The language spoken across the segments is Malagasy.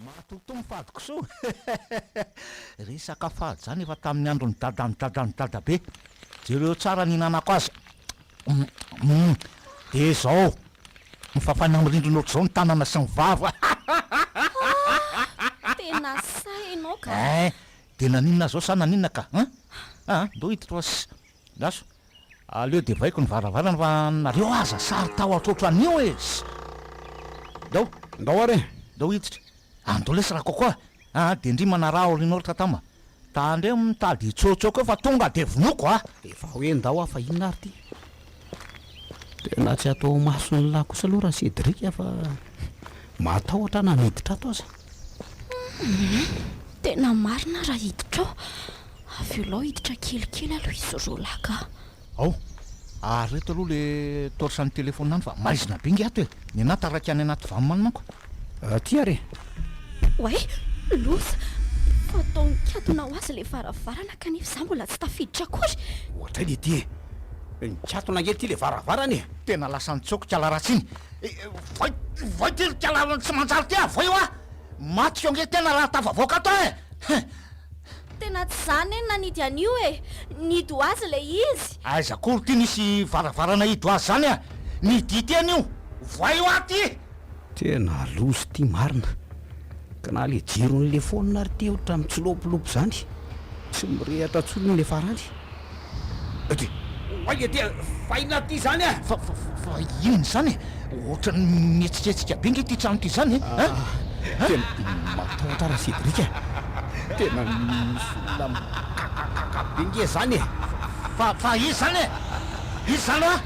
Matotoa ny fahadikisoa eh! Resaka fady zany efa tamin'ny andron'ny dadan'ny dadan'ny dadabe. Jereo tsara ny hinanako azy. Umm dia zao ny fafana mirindrina ohatr'izao ny tanana sy ny vava eh! Haa tena sahy ianao ka! Eh! Dia naninona zao sa naninona ka? Haa haa ndao hiditra oa sy. Andraso, aleo devaiko ny varavarana fa nareo aza sarotahotra otran'io e! Ndao! Ndao ary e! Ndao hiditra! Ando lesy Rakokoa a! Dendrimana raha aoriana ohatra tama! Tandremo mitady hitsoatsoaka eo fa tonga dia vonoiko a! Efa hoe ndao a! Fa inona ary ity? Tena tsy atao mason'ny lahy kosa aloha ra-Cédric a! Fa matahotra na miditra ato aza! Tena marina ra-Hiditra ao! Avy eo lao hiditra kelikely aloha izy roa lahy ka. Ao, ary reto aloha le torche an'ny téléphone any fa maizina be nge ato e. Ny anah taraiky any anaty vam any manko. Aty ary e. Oay, loza! Fatao nikatona ho azy le varavarana kanefa za mbola tsy tafiditra akory. Ohatray le ty e. Nikatona nge ty le varavarana e. Tena lasa nitsoaka ikala ratsy iny. Voay, voay ty ry kala tsy manjary ty ah, voay hoa. Maty feo nge tena raha tafavoaka ato ah e. Tena tsy za anie nanidy an'io e! Nidy ho azy ilay izy! Aiza akory ity nisy varavarana hidy ho azy zany a! Nidy ity anio! Voay hoa ty! Tena loza ity marina. Ka na le jiron'le phone ary ty otrany tsy lopilopy zany. Tsy mirehatra tsony le farany. Aty. Oay aty a! Faina aty izany a! Fa, fa, fa inona izany e? Ohatran'ny mihetsiketsika be nge ity trano ity izany e! An! An! Tena matahotra ra Cédric a! Tena misy olona mikakakaka be nge izany e! Fa, fa iza izany e? Iza izany hoa?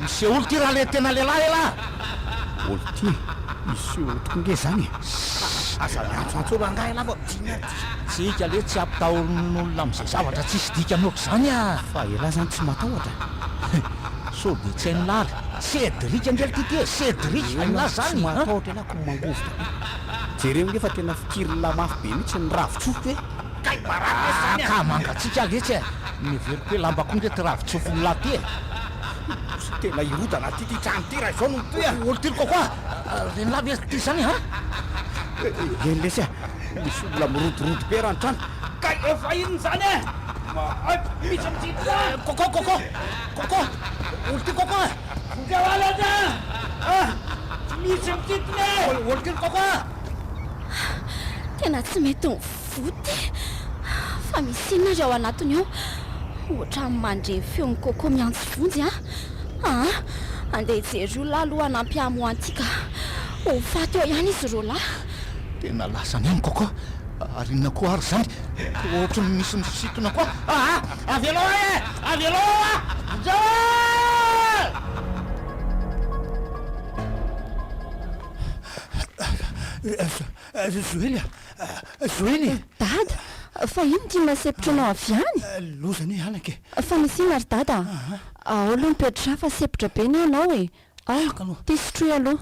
Miseho olo ity raha le tena lehilahy elah a! Olo ity miseho olo tokoa nge izany e! Aza miantsoantso rangahy elah fa mijinja. Tsika anie tsy ampitahorin'olona amin'izay zavatra tsisy dikany ohatr'izany a! Fa elah zany tsy matahotra e! Sao dia tsy hain'i lah ry Cédric angely ty ty e! Cédric, hain'i lah zany an! Elah tsy matahotra elah ko mangovitra be! Jereo nge fa tena fikirin'i lah mafy be mihitsy ny ravin-tsofiko e! Kay baraka ve zany an! Ka mangatsiaka letsy e! Miheveriko hoe lamba koa nge ty ravin-tsofin'i lah ty e! Lasa tena hirodana aty ty trano ty raha izao no mitohy a! Olon-tiry kokoa! Ren'ilah ve ty zany an! Eny letsy a! Misy olona mirodorodo pera an-trano. Kay efa inona izany e? Mahaibo mihitsy amin'ity ity a! Coco, Coco! Coco! Olo ty Coco a! Vonjeo ahy ilay izy a! Tsy misy mititiny e! Olo ty ry Coco a! Tena tsy mety mivoa ty! Fa misy inona ry ao anatiny ao? Ohatran'ny mandre ny feon'i Coco miantso vonjy a! Aa! Andeha hijery olona aho aloha hanampy hamoa an'ity ka! Ho faty eo ihany izy roalahy! Tena lasa any amiko koa ary inona koa ary izany? Ohatry ny misy misintona koa aa! Avelao ahy e! Avelao aho a! Mijao a! Joely a! Joely e! Dada! Fa inona ity masepotra anao avy any? Loza anie halako e! Fa misy inona ry Dada a? Ao aloha mipetra-drà fa sepotra be ny anao e! Ao, ty sotroy aloha.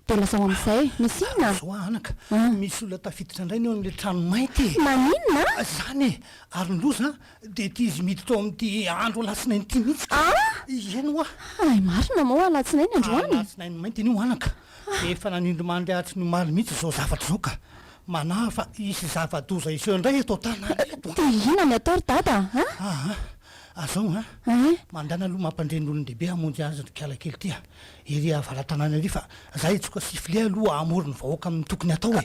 Dia lazao amin'izay. Misy inona? Zao a anaka, misy olona tafiditra indray ny ao amin'ilay trano mainty e! Maninona? Izany e! Ary ny loza dia ity izy miditra ao amin'ity andro alatsinainy ity mihitsy ka! Ah! Ieny hoa! Hay marina moa alatsinainy androany? Alatsinainy mainty anio anaka. Efa nanindrimandry hatry ny omaly mihitsy izao zavatra izao ka! Manahy fa hisy zava-doza hiseho indray eto an-tanàna eto. Dia inona ny atao ry dada a? Aa! Azao an! Mandana aloha mampandre ny olon-dehibe hamonjy azy ry kiala kely ty a! Ery avaratanana ery fa za hitsoka sifle aloha hahamory ny vahoaka amin'ny tokony hatao e!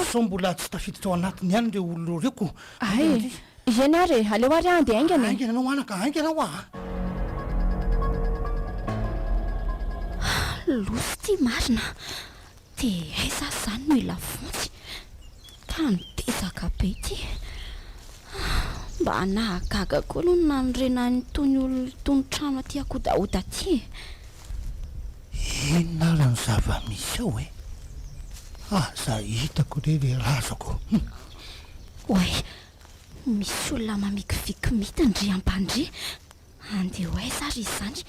Sao mbola tsy tafiditra ao anatiny ihany ireo olona ireo ko! Haingana ry. Hiena ary e! Aleo ary an! Dia haingana e! Haingana ianao anaka! Haingana ho'a a! Losy ity marina! Dia aiza aza izany no hilafontsy? Tany dezaka be ity. Mba nahagaga koa aloha ny nanorenany an'itony olona itony trano aty akodahoda aty e! Inona ary ny zava-misy ao e? Aza hitako re ilay razako. Oay! Misy olona mamikiviky mita ndry ampandria. Andeha ho aiza ary izy izany?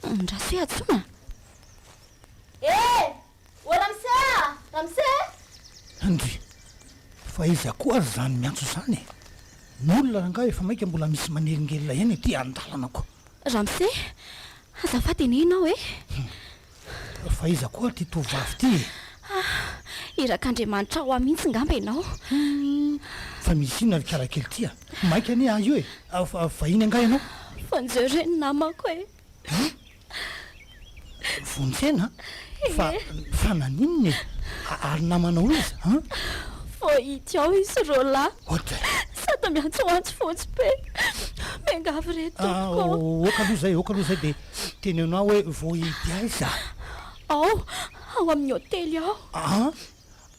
Andraso hoe antsoina? Eh! O Ramse a! Ramse! Ndry! Fa iza koa ary izany miantso izany e? Ny olona rangahy efa maika mbola misy manelingelina eny ety an-dalana ko. Ramse! Azafady anie ianao e! Fa iza koa ary ity tovovavy ity e? Ah! Irak'Andriamanitra hoa mihitsy ngamba ianao. Fa misy inona ry karakely ity a? Maika anie ahy io e! Fa vahiny angaha ianao? Vonjeo re ny namako e! Vonjena fa fa naninona e? Ary namanao iza an? Voahity ao i Srola. Sata miantsoantso fotsy be. Miangavy re tompoko. Ok aloha izay, ok aloha izay dia teneno ahy hoe voahity aiza? Ao, ao amin'ny hotely ao.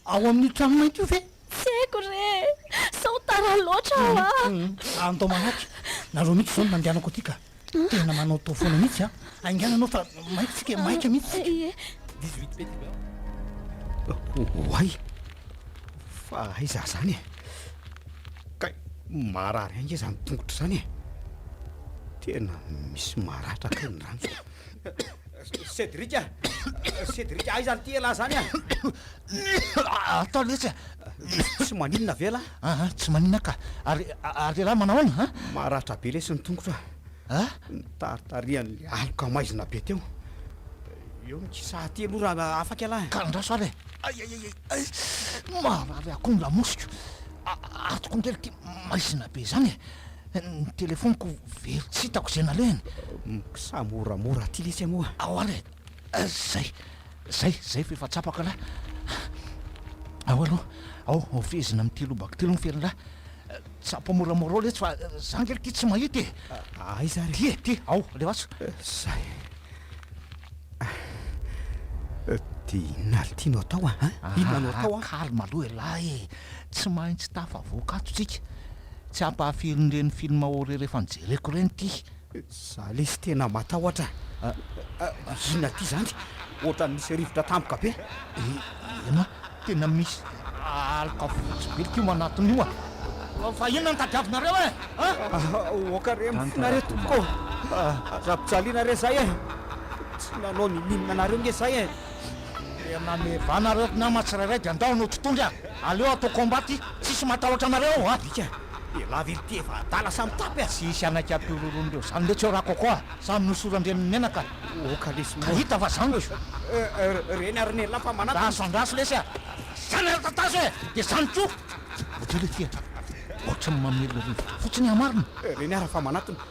ao amin'io trano mainty io ve? Tsy haiko re e! Sao tara loatra aho a! Andao manahaka e! Nareo mihitsy izao no nandehanako aty ka! Tena manao tao foana mihitsy a! Haingana ianao fa maika isika e! Maika mihitsy isika! Ie! Dix-huit petit beurre. Oay! Fa aiza izany e! Kay, marary ange izany tongotra izany e! Tena misy maratra kay ny rano. Cédric a! Cédric a! Aiza an'ity elah zany a! Atao letsy a! Tsy maninona ve lah? Aha, tsy maninona ka! Ary, ary elah manao ahoana a? Maratra be lesy ny tongotro a! A? Nitaritarihan'ilay aloka maizina be teo. Eo ny kisa aty aloha raha afaka elah. Ka andraso ary e! Ay, ay, ay, ay! Marary akoho ny lamosiko! Atoko ny kely ity maizina be izany e! Ny telefoniko very tsy hitako izay nalehany. Mksa moramora aty lesy amoa. Ahoana e? Zay, zay, zay f'efa tsapako lah. Ao aloha, ao, ao fehezina amin'ny telo baky telo ny ferin'lah. Tsapo moramora ao letsy fa za nge aty tsy mahita e. Aiza ary? Ty e, ty, ao, alefaso. Zay. Dia inona ary ity no atao an? Inona no atao an? Calme aloha elah e, tsy maintsy tafavoaka ato tsika. Tsy hampahafiry ny reny film ô re refa nijereko reny ty. Za lesy tena matahotra ah, inona ty zany? Ohatrany misy rivotra tampoka be. Eny an, tena misy aloka fotsy be likio manatona io an. Fa inona no tadiavinareo e? Aoka re mifona re tompoko ô, aza ampijaliana re zay e, tsy nanao n'inon'inona anareo nge zay e. Dia manome vahana ireo mpinama tsirairay dia ndao no totohondry a! Aleo atao combat ty, tsisy matahotra anareo ao a! Alika dia lavility efa adala sa mitapy a! Tsy hisy hanaiky ato io roronin'ireo izany letsy eo ra coco a! Samy nosoran-dreniny menaka oka lesy moa! Ka hita fa zany lesy io! Reny ary Nella fa manatona! Andraso andraso lesy a! Zany ary tatazo e! Dia zany koa! Odila ity a! Ohatran'ny mamelona rivotra fotsiny an marina! Reny ary fa manatona!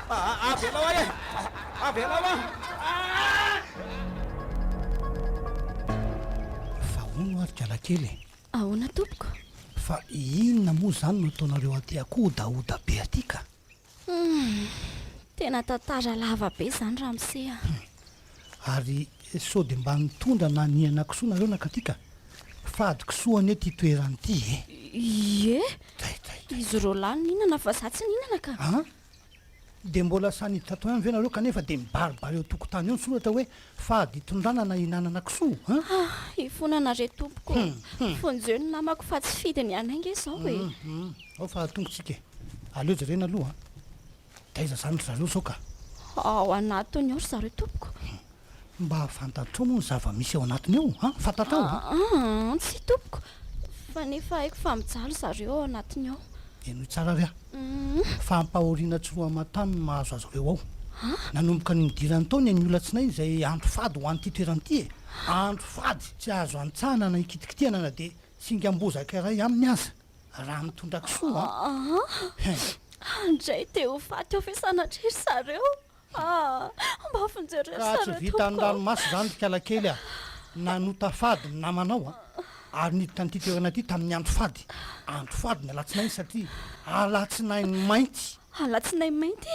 Avelao ahy e! Avelao ahy! Fa hono ary kialakely e! Ahoana tompoko? Fa inona moa izany no ataonareo aty akoho odaoda be aty ka? Tena tantara lava be izany ramose a! Ary sao dia mba nitondra na niana kisoa nareo nankaty ka? Fady kisoa anie ity toerana ity e! Ie! Izy roalahy nihinana fa za tsy nihinana ka! Dia mbola samy tatouin ve nareo kanefa dia mibaribary eo tokotany eo ny soratra hoe fady itondrana na ihinanana kisoa an? Ha, ifonana re tompoko o! Fonjeo ny namako fa tsy fidy ny anay nge zao e! Hum, hum, ao fa tongotsika e! Aleo jerena aloha an! Taiza zany ry zareo sao ka? Ao anatiny ao ry zareo tompoko. Mba fantatrao moa ny zava-misy ao anatiny ao a! Fantatrao a! Aa, tsia tompoko, fa nefa haiko fa mijaly zareo ao anatiny ao. Henoy tsara ary a! Fampahoriana tsy roaman-tany no mahazo azy ireo ao. Nanomboka ny nidirany tao ny anio alatsinainy izay andro fady ho an'ity toerana ity e! Andro fady tsy azo antsahana na ikitikitihana na dia singam-bozaka iray aminy aza, raha mitondra kisoa a! Aa, handray dia ho faty ao ve sanatria ry zareo? Ka tsy vitan'ny ranomaso izany ry kalakely a! Nanota fady ny namanao a! Ary niditra an'ity toerana ity tamin'ny andro fady, andro fady ny alatsinainy satria alatsinainy mainty. Alatsinainy mainty?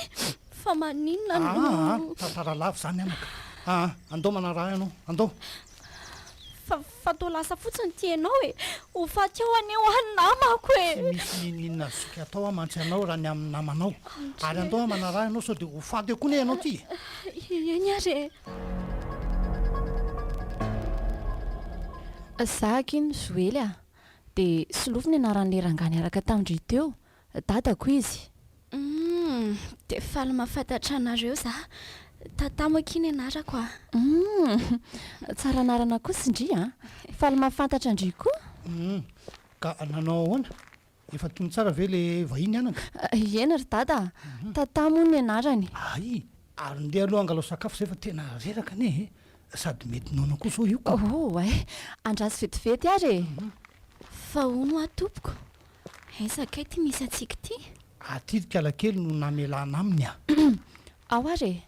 Fa maninona no. Aa! Tantara lava izany amiko a! Andao manaraha ahy ianao, andao! Fa fa toa lasa fotsiny ity ianao e. Ho faty ao anie hoa ny namako e. Tsy misy n'inon'inona azontsika atao hoa mantsy anao raha ny amin'ny namanao. Ary andao hoa manaraha ianao sao dia ho faty eo koa anie ianao ity e. Eny ary e. Zah akia no Joely a. Dia solofo ny anaran'ilay rangahy niaraka tamin-dry teo. dadako izy. Humm, dia faly mahafantatra anareo za. Tata moa akia ny anarako a. Humm, tsara anarana kosa ndry a. Faly mahafantatra an-dry koa. Humm, ka nanao ahoana? Efa tony tsara ve le vahiny anaka? Eny ry dada a, Tata moa ny anarany. Hay, ary ndeha aloha hangalao sakafo izay fa tena reraka anie e. Sady mety noana koa izao io ka. Oh, hay, andraso vetivety ary e. Fa hono hoa tompoko, Aiza kay ty misy antsika ty? Aty ry kalakely no namelana aminy a! Ao ary e!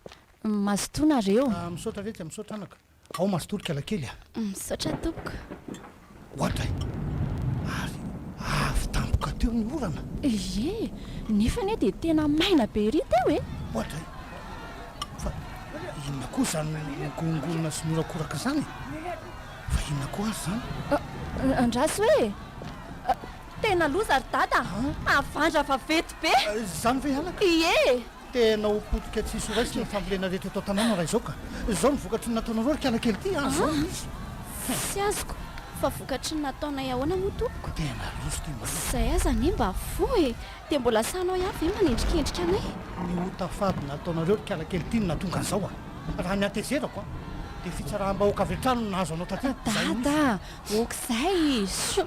Mazotoa nareo! Misaotra retsy a! Misaotra anaka! Ao mazotoa ry kalakely a! Misaotra tompoko! Oadray! Ary avy tampoka teo ny orana! Ie! Nefa anie dia tena maina be ery teo e! Oadray! Fa inona koa izany migongonona sy miorakoraka izany e! Fa inona koa ary izany? Ah, andraso e! Ah, tena loza ry dada, havandra vaventy be! Ah, izany ve halaka? Ie! Tena ho potika tsy hisy ho raisina ny fambolena rehetra eto an-tanàna raha izao ka! Izao ny vokatry ny nataonareo ry kiala kely ity, ah, izao no izy! Tsy azoko, fa vokatry ny nataonay ahoana moa tompoko? Tena loza ity mba! Izay aza anie mba voa e! Dia mbola sahinao ihany ve manendrikendrika anay? Ny ota fady nataonareo ry kialakely ty no nahatonga an'izao a! Raha ny hatezerako a! Dia fitsaraham-bahoaka avy hatrany no nahazo anao taty an! Dada a! Ok izay e! Shuh!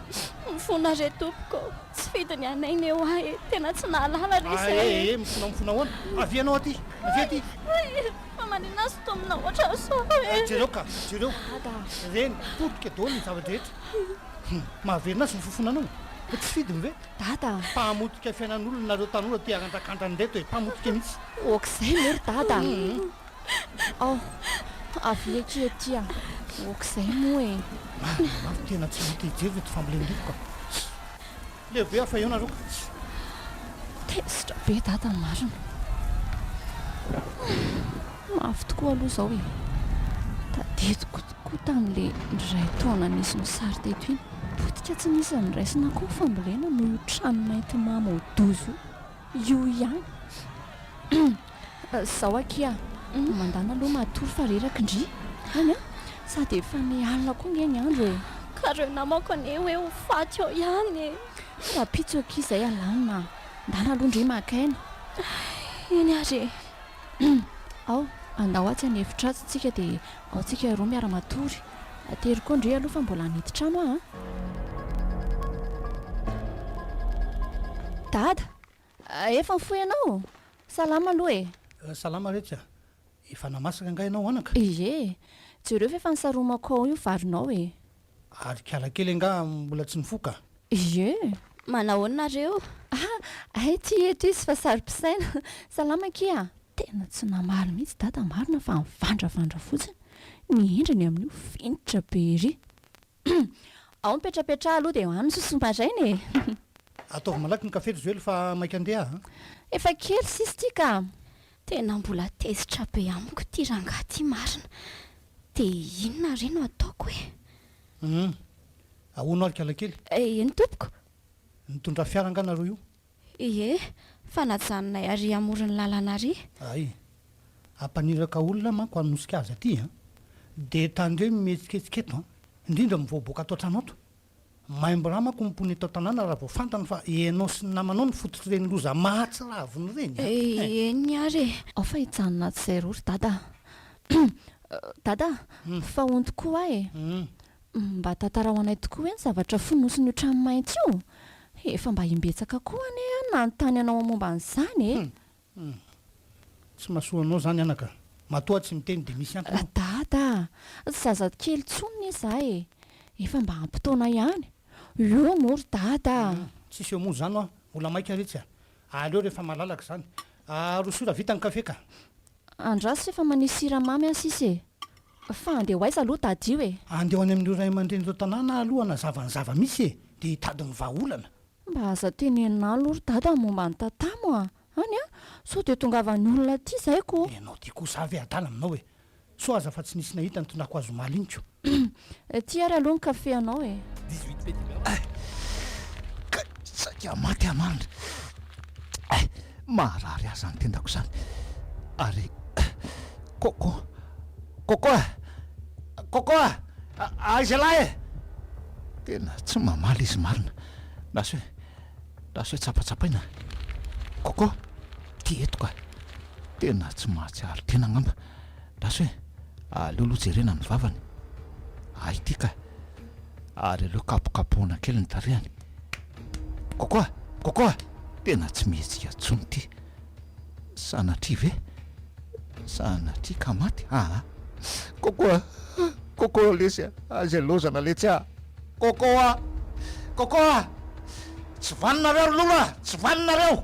Mifona re tompoko! Tsy fidiny anay ny ewa e! Tena tsy nahalala re izay e! Ae e! Mifona mifona ahoana? Avia ianao aty! Avia aty! Ae! Fa maninona azy itony na ohatrany sao e! Jereo ka! Jereo! Dada a! Reny! Potika daholo ny zava-drehetra! Hum! Mahavelona azy ny fofonanao e! Tsy fidiny ve? Dada a! Mpamotika fiainan'olona nareo tanora tia arandrakandra an'ireto e! Mpamotika mihitsy! Ok'izay moa ry Dada a! Aoh! Avia akia ety a! Ok'izay moa e! Marina ny marina, tena tsy maha-te hijery ireto fambolen'iriko ka! Leo be aho fa eo nareo ka! Tezitra be Dada ny marina! Mafy tokoa aloha izao e! Tadidiko tokoa tamin'ilay iray taona nisy ny sary teto iny. Potika tsy nisy niraisina akoho fambolena noho io trano mainty mamo ao Dozo io ihany. Izaho akia mandana aloha matory fa reraka ndry any an! Sady efa ny alina koa ange ny andro e! Ka reo namako anie hoe ho faty ao ihany e! Rahampitso akia izay alanina an! Ndana aloha ndry maka aina. Eny ary e! Ao, andao atsy an'efitra atsy tsika dia Ao antsika roa miara matory. Ateriko ao ndry aloha fa mbola hamidy trano aho a! Dada! Efa nifoha ianao? Salama aloha e! Salama re ka! Efa namasaka angaha ianao anaka? Ie! Jereo fa efa nisaromako ao io varinao e! Ary kala kely angaha mbola tsy nifoha ka! Ie! Manahoana nareo? Hay ty eto izy fa saro-pisaina! Salama akia! Tena tsy namaly mihitsy dada marina fa mivandravandra fotsiny ny endriny amin'io finitra be ery. Humm. Ao ny petrapetraha aloha dia any ny sosony maraina e. Ataovy malaky ny kafe ry Joely fa maika andeha aho a. Efa kely sisa ity ka. Tena mbola tezitra be amiko ity rangahy ity marina. Dia inona re no ataoko e? Humm. Ahoana ary kalakely? Eny tompoko. Nitondra fiara angaha nareo io? Ie, fa najanonay ary amoron'ny lalana ary. Ay. Hampaniraka olona manko hanosika azy aty an! Dia tandreo ny mihetsiketsika eto an! Indrindra ny voaboaka ato an-trano ato. Maimbo ra manko ny mponina eto an-tanàna raha vao fantany fa ianao sy ny namanao no fototr'ireny loza mahatsiravina ireny an! Eny ary e! Ao fa hijanona ato izay roa ry Dada a! Dada a! Fa honty koa aho e! Mba tantarao anay tokoa hoe ny zavatra fonosin'io trano mainty io? Efa mba imbetsaka koa anie aho no nanontany anao momba an'izany e! Hum! Tsy mahasoa anao izany anaka a! Matoa tsy miteny dia misy antony ao! Dada a! Tsy zazakely intsony anie za e! Efa mba ampy taona ihany! Eo moa ry Dada a! Hum! Tsisy eo moa izany hoa! Mbola maika retsy a! Aleo rehefa malalaka izany! Aroso io raha vita ny kafe ka! Andraso rehefa manisy siramamy an sisa e! Fa andeha ho aiza aloha tady io e? Andeha ho any amin'ireo ray aman-dreny ireo tanàna aloha hanazava ny zava-misy e! Dia hitady ny vahaolana. Mba aza tenenina aloha ry dada ny momba an'i tatamo a! any a! Sao dia tongavan'ny olona aty izay ko! Ianao ity kosa avy e adala aminao e! Sao aza fa tsy nisy nahita ny tondrako azy omaly iny ko! Ity ary aloha ny café anao e! Ay! Kay! Saika maty aho mandry! Ay! Maharary ahy izany tendako izany! Ary Coco! Coco a! Coco a! Aiza lahy e! Tena tsy mamaly izy marina! Na sao hoe, na sao hoe tsapatsapaina! Coco! Ty eto ka! Tena tsy mahatsiaro tena angamba! Raso e! aleo aloha jerena ny vavany, ah ity ka! ary aleo kapokapohina kely ny tarehiny. Kôkô a! Kôkô a! tena tsy mihetsika intsony ity! sanatria ve? sanatria ka maty? aa! Kôkô a! Kôkô lesy a! izay laozana letsy a! Kôkô a! Kôkô a! tsy vaninareo ry lolo a! tsy vaninareo!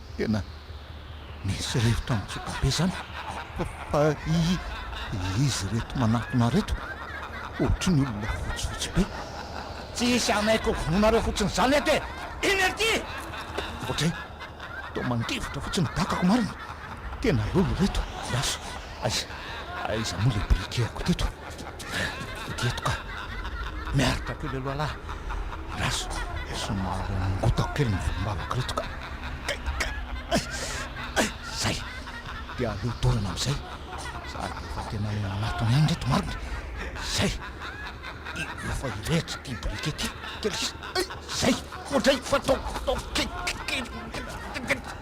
Tena misy rivotra mitsoka be zany fa izy reto manatona reto ohatry ny olona fotsifotsy be. Tsy hisy hanaiky ho vonoinareo fotsiny zany eto e! Inona ry ty? Ohatry toa mandivotra fotsiny dakako marina. Tena lolo reto, Raso. Aiza moa le briquet-ko teto? Ety eto ka. Miaritra kely aloha lah. Raso, somary nangotako kely ny volombavako ireto ka. Kay, kay. Zay. Dia aleo dorana amin'izay. Sady efa tena manatona ihany ireto marina e. Zay. Efa hirehitra ity biriky ity. Kely sisa. Zay. Ohatr'izay. Fa ataovy kely.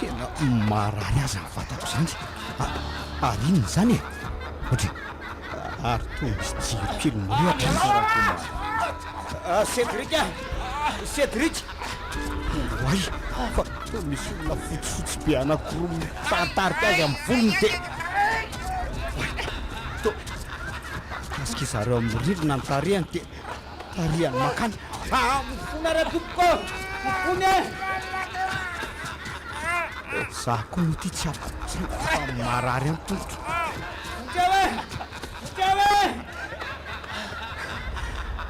Tena marary azy ny vatako izany. Ary inona izany e? Ohatry ary toa misy jiro kely mirehitra aza raha vao mahazo. Cédric a! Cédric! Oay! Fa toa misy olona fotsifotsy be anankiroa mitantarika azy amin'ny volony dia toa mikasika izy ireo amin'ny rindrina ny tarehiny dia Tarihan'ny makany. Aa! Mifona re tompoko! Mifona e! Za koa moa ty tsy ampitsaiko fa marary ihany tongotro. Vonjeo e! Vonjeo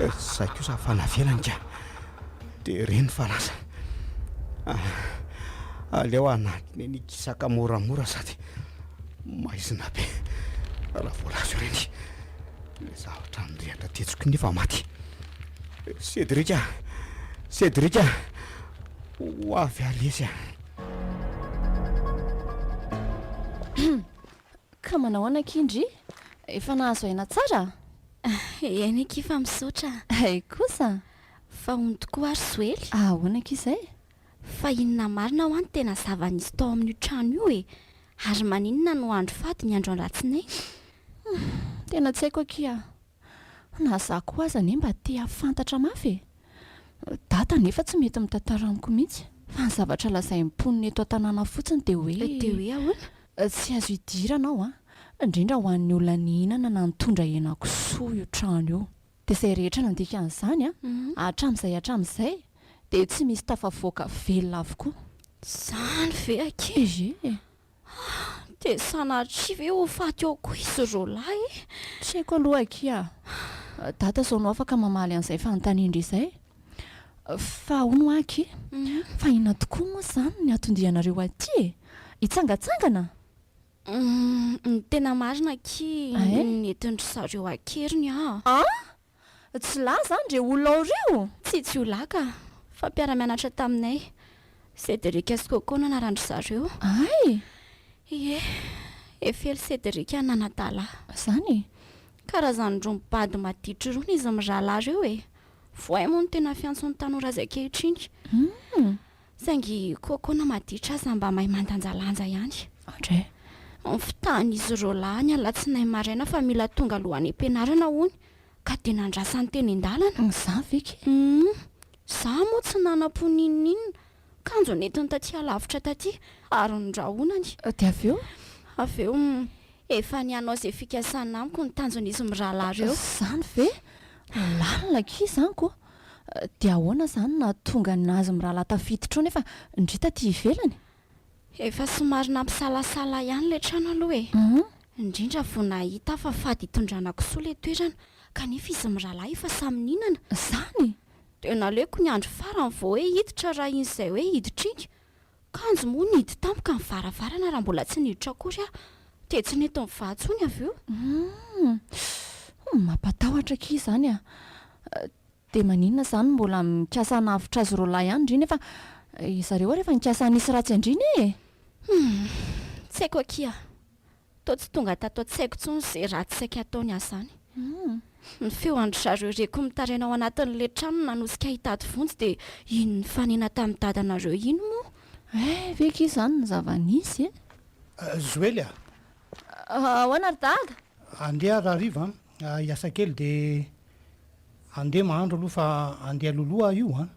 e! Zay kosa afa navelany ka. De reny fa lasa. Aa! Aleo hanatona eny Kisaka moramora sady maizina be raha vao lasa ireny. Izaho hatrany rehatra tetsy koa nefa maty. Cédric a! Cédric a! Ho avy ary lesy a! Ka manao ahoana akia ndry? Efa nahazo aina tsara? Eny akia fa misaotra. Hay kosa! Fa hono tokoa ary Soely? Ahoana akia izay? fa inona marina hoa no tena zava-nisy tao amin'io trano io e? Ary maninona no andro fady ny andro alatsinainy? Humm, tena tsy haiko akia. Na za koa aza anie mba te hahafantatra mafy e! Dada anefa tsy mety mitantara amiko mihitsy, fa ny zavatra lazain'ny mponina eto an-tanàna fotsiny dia hoe. Dia hoe ahoana? Tsy azo idirana ao an! indrindra ho an'ny olona nihinana na nitondra hena kisoa io trano io. Dia izay rehetra nandika an'izany hatramin'izay hatramin'izay dia tsy misy tafavoaka velona avokoa. Izany ve akia? Ehe. Dia sanatria ve ho faty ao koa izy roa lahy e? Tsy haiko aloha akia. Dada izao no afaka mamaly an'izay fanontanian-dry izay. Fa hono aky, fa inona tokoa moa izany ny hatondianareo aty e? Hitsangantsangana? Ny tena marina aky nentin-dry zareo an-keriny an! An! Tsy lahy izany ireo olona ao ireo? Tsia, tsy ho lahy ka, fa mpiara-mianatra taminay, Cédric sy Coco no anaran-dry zareo. Hay! Ie, Eiffel Cédric Nanadala. Izany e! Karazany roa mibado maditry rony izy mirahalahy ireo e! Voay moa no tena fiantson'ny tanora azy ankehitriny. Hum! Saingy koa koa na maditra aza mba mahay mandanjalanja ihany. Andre. Ny fitahan'izy ireo lahy ny alatsinainy maraina fa mila tonga aloha any am-pianarana hono ka dia nandrasany teny an-dalana. Izaho ve ke? Humm. Izaho moa tsy nanam-po n'inon'inona. Kanjo nentiny taty alavitra taty ary nondrahonany. Dia avy eo? Avy eo, humm, efa ny hanao izay fikasany amiko no tanjon'izy mirahalahy ireo. Izany ve? Lalina akia izany koa. Dia ahoana izany no nahatonga an'azy mirahalahy tafiditra ao nefa ndry taty ivelany? Efa somary nampisalasala ahy ihany ilay trano aloha e. Indrindra vao nahita aho fa fady hitondrana kisoa ilay toerana, kanefa izy mirahalahy efa samy nihinana. Izany? Dia naleoko ny andro farany vao hoe hiditra raha iny izay hoe hiditra iny. Kanjo moa nihidy tampoka ny varavarana raha mbola tsy niditra akory aho. Dia tsy nety nivaha intsony avy eo. Humm. Mampatahotra akia izany a! Dia maninona izany no mbola mikasa hanavotra azy roalahy ihany ndry nefa izareo ary efa nikasa hanisy ratsy an-dry anie e! Humm. Tsy haiko akia. Toa tsy tonga tato an-tsaiko intsony izay ratsy saika ataony aza izany. Ny feo an-dry zareo reko mitaraina ao anatin'ilay trano nanosika hitady vonjy dia iny nifanena tamin'i dadanareo iny moa. Eh, ve kay izany ny zava-nisy e? Joely a! Ahoana ry dada? Andeha rahariva an! Hiasa kely dia andeha mahandro aloha fa andeha loloha aho io an!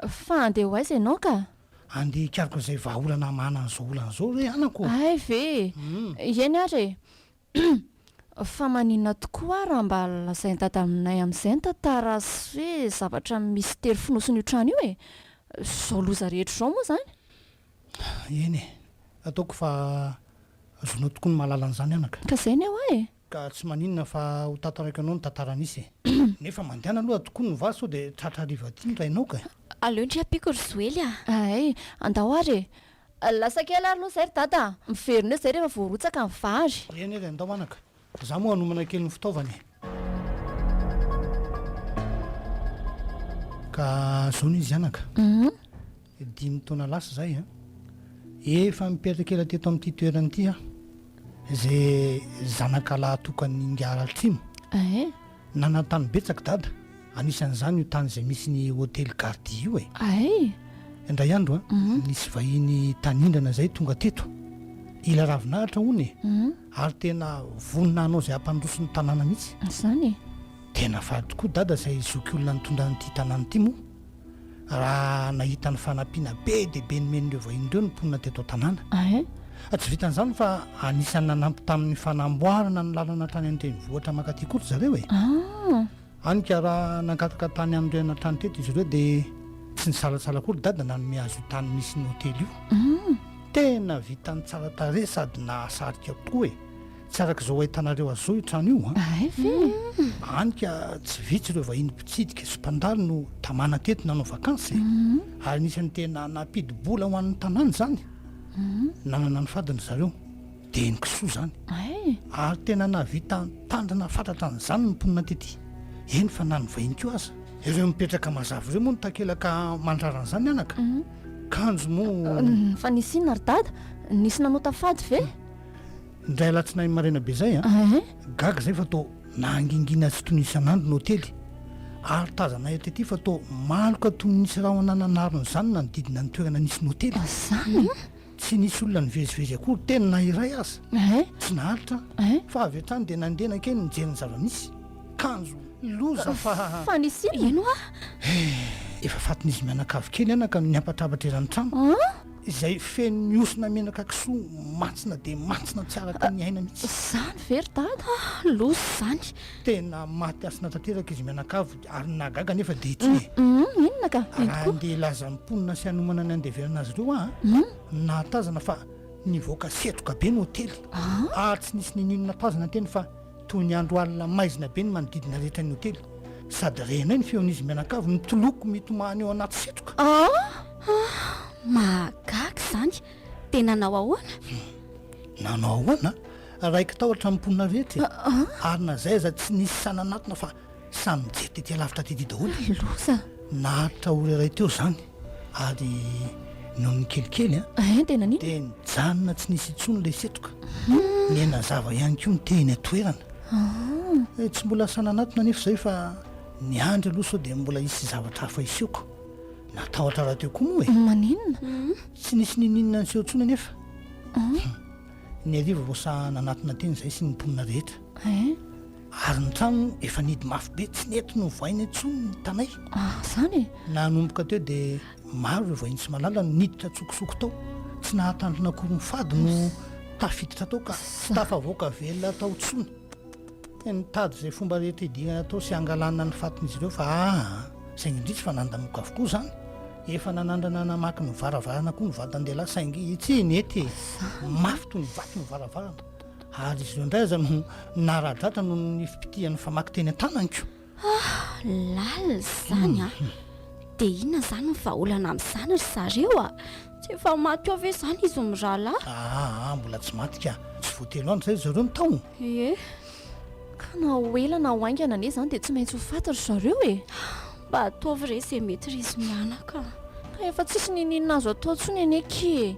Fa andeha ho aiza ianao ka? Andeha hikaroka izay vahaolana hamahana an'izao olana izao re anako. Hay ve e! Ieny ary e! Fa maninona tokoa raha mba lazain'i Dada aminay amin'izay ny tantara sy hoe zavatra misitery fonosin'io trano io e! Izao loza rehetra izao moa izany? Eny e! Ataoko fa azonao tokoa ny mahalala an'izany anaka. Ka izay ny hoa e! Ka tsy maninona fa ho tantaraiko anao ny tantara nisy e! Nefa mandehana aloha tokoa ny vary sao dia tratra hariva aty ny rainao ka e! Aleo ndry ampiako ry Joely a! Hay, andao ary e! Lasa kely ary aloha izay ry Dada a! Miverina eo izay rehefa voarotsaka ny vary! Eny ary andao anaka! Fa izaho moa hanomana kely ny fitaovana e! Ka izao ny izy anaka! Humm! Dimy taona lasa izay, efa mipetraketra teto amin'ity toerana ity aho, izay zanaka lahy tokan'ny Ingara Altrimo. Nanan-tany betsaka dada, anisan'izany io tany izay misy ny hotely Gardia io e. Indray andro, nisy vahiny tanindrana izay tonga teto, ila ravinahitra hono e, ary tena vonona hanao izay hampandroso ny tanàna mihitsy. Tena faly tokoa dada izay zokiolona nitondra an'ity tanàna ity moa. raha nahita ny fanampiana be dia be nomen'ireo vahiny ireo ny mponina teto an-tanàna. Tsy vitan'izany fa anisan'ny nanampy tamin'ny fanamboarana ny lalana hatrany an-drenivohitra mankaty koa ry zareo e. Hany ka raha nangataka tany amin'ny reanà trano teto izy ireo dia tsy nisalatsala akory dada nanome azy io tany misy ny hotely io. Tena vitany tsara tarehy sady nahasarika koa e. Tsy araka izao ahitanareo azy izao io trano io an! Hay ve e! Hany ka tsy vitsy ireo vahiny mpitsidika sy mpandalo no tamana teto nanao vakansy e! Ary anisan'ny tena nampidi-bola ho an'ny tanàna izany. Nanana ny fadiny zareo. Dia eny kisoa izany. Hay! Ary tena nahavita nitandrina fatratra an'izany ny mponina tety, eny fa na ny vahiny koa aza. Ireo mipetraka mazava ireo moa no takelaka mandrara an'izany anaka. Kanjo moa. Fa nisy inona ry dada? Nisy nanota fady ve? Indray alatsinainy maraina be zay an, ah, gaga zay fa to nangingina tsy tony isan'andro ny hotely ary tazanay tety fa to maloka tony nisy rahona nanaro ny zanany nanodidina ny toerana nisy ny hotely. Mazana an! Tsy nisy olona nivezivezy akory teny na iray aza. Eh? Tsy naharitra an. Eh? Fa avy hatrany dia nandeha nankeny nijery ny zava-misy. Kanjo loza fa. Fa nisy inona? Ino ah? Eh, efa fatin'izy mianakavy kely anaka no niampatrapatra eran'ny trano. Ah? izay feno ny osona menaka kisoa mantsina dia mantsina tsy araka ny aina mihitsy. Izany ve ry dada a! Loza izany. Tena maty hasina tanteraka izy mianakavy ary ny nahagaga anefa dia ity e! Hum, inona ka? Ito Raha koa? handeha hilaza ny mponina sy hanomana ny handevenana azy ireo aho a! nahatazana fa nivoaka setroka be ny hotely ary tsy nisy n'inon'inona tazana teny fa Toy ny andro alina maizina be ny manodidina rehetra ny hotely, sady renay ny feon'izy mianakavy mitoloko mitomany ao anaty setroka. Ah! Mahagaga izany! Dia nanao ahoana? Nanao ahoana? Raiki-tahotra ny mponina rehetra e! Ary na izay aza tsy nisy sahy nanatona fa Samy nijery tetỳ alavitra tetỳ daholo. Ny loza! Naharitra ora iray teo izany, ary nony kelikely an! Hein, dia nanino? Dia nijanona tsy nisy intsony ilay setroka. Nihaino nazava ihany koa ny teny an-toerana. Ah! Eh, tsy mbola asa nanatona anefa izahay fa niandry aloha sao dia mbola hisy zavatra hafa hisehoka. Natahotra rahateo koa moa e! Maninona? Tsy nisy ninoninona niseho intsony anefa. Hum! Ny hariva vao sahy nanatona teny izahay sy ny mponina rehetra. Hein? Ary ny trano efa nidy mafy be, tsy nety novohaina intsony ny tanay. Ah, izany e! Nanomboka teo dia maro ireo vahiny tsy malala no niditra an-tsokosoko tao. Tsy nahatandrina akory ny fady no tafiditra tao ka tsy tafavoaka velona tao intsony. Dia nitady izay fomba rehetra hidirana atao sy hangalana ny fatin'izy ireo fa aa! izay indrisy fa nandamoka avokoa izany. Efa nanandrana namaky ny varavarana koa ny vatandehilahy saingy tsy nety e! Mafy toy ny vato ny varavarana. Ary izy ireo indray aza no nara-dratra noho ny fipitihan'ny famaky teny an-tananiko. Ah, lalina izany ah. Hmm. Dia inona izany ny vahaolana amin'izany ry zareo ah? Tsy efa maty ao ve izany izy mirahalahy? Ah, ah, ah, mbola tsy maty ka. Tsy vao telo andro izay zareo no tao. Ie, ka na ho ela na ho haingana anie izany dia tsy maintsy ho faty ry zareo e. Mba ataovy re izay mety ry izy mianaka. Ka efa tsisy n'inon'inona azo atao intsony anie ki e.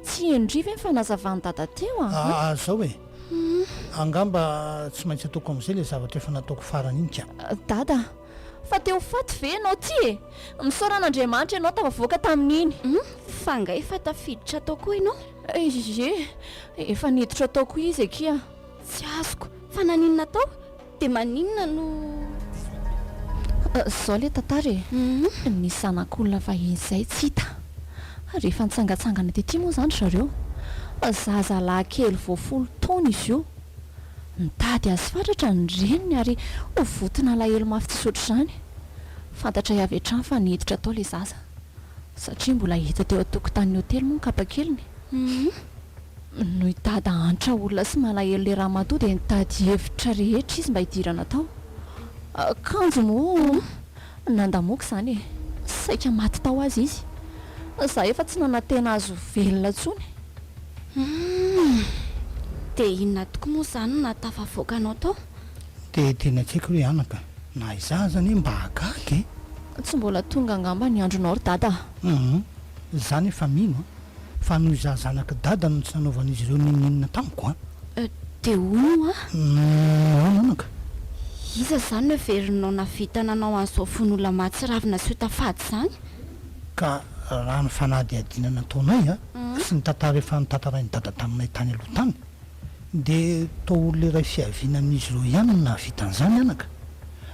Tsy henodry ve ny fanazavan'i Dada teo a? Aa zao e! Angamba tsy maintsy ataoko amin'izay ilay zavatra efa nataoko farany iny ka! Dada a! Fa te ho faty ve ianao ty e! Misaora an'Andriamanitra ianao tafavoaka tamin'iny! Hum! Fa angaha efa tafiditra tao koa ianao? Ee! Efa niditra tao koa izy akia! Tsy azoko! Fa naninona tao? De maninona no Zao le tantara e, ny zanak'olona vahiny zay tsy hita rehefa nitsangatsangana tety moa zany ry zareo, zaza lahy kely vao folo taona izy io, nitady azy fatratra ny reniny ary ho voton'alahelo mafy tsisy ohatr'izany, fantatray avy hatrany fa niditra tao le zaza satria mbola hita teo an-tokotanin'ny hotely moa ny kapakeliny. Noho i Dada antra olona sy malahelo ilay ramatoa dia nitady hevitra rehetra izy mba hidirana tao. Kanjo moa nandamoako izany e! Saika maty tao aza izy. Izaho efa tsy nanantena azy ho velona intsony. Humm! Dia inona tokoa moa izany no nahatafavoaka anao tao? Dia tena tsy haiko re anaka. Na izaho aza anie mba hahagaga e! Tsy mbola tonga angamba ny andronao ry Dada a! Humm! Izaho anefa mino a! fa noho izaho zanak'i Dada no tsy nanaovan'izy ireo n'inon'inona tamiko an! Dia hono hoa? Nahoana anaka? Iza izany no heverinao nahavita nanao an'izao vono-olona mahatsiravina sy hota-fady izany? Ka raha ny fanadihadiana nataonay sy ny tantara efa notantarain'i Dada taminay tany aloha tany, Dia toa olona iray fiaviana amin'izy ireo ihany no nahavita an'izany anaka?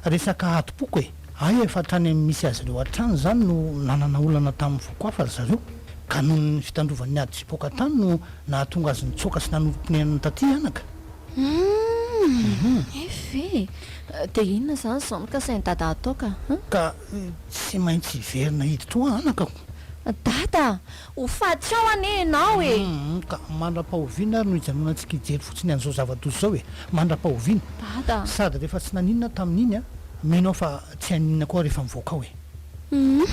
Resaka adim-poko e! Hay efa hatrany amin'ny misy azy ireo hatrany izany no nanana olana tamin'ny foko hafa ry zareo, ka noho ny fitandrovan'ny ady hipoka tany no nahatonga azy nitsoaka sy nanorim-ponenana taty anaka. Humm! Eff e! Dia inona izany izao no kasain'i Dada hatao ka? Ka tsy maintsy hiverina hiditra ho ahy anaka o! Dada! Ho faty ao anie ianao e! Humm ka mandra-pahoviana ary no hijanonantsika hijery fotsiny an'izao zava-doza izao e! Mandra-pahoviana? Dada a! Sady rehefa tsy naninona tamin'iny a! Mino aho fa tsy haninona koa rehefa mivoaka ao e! Humm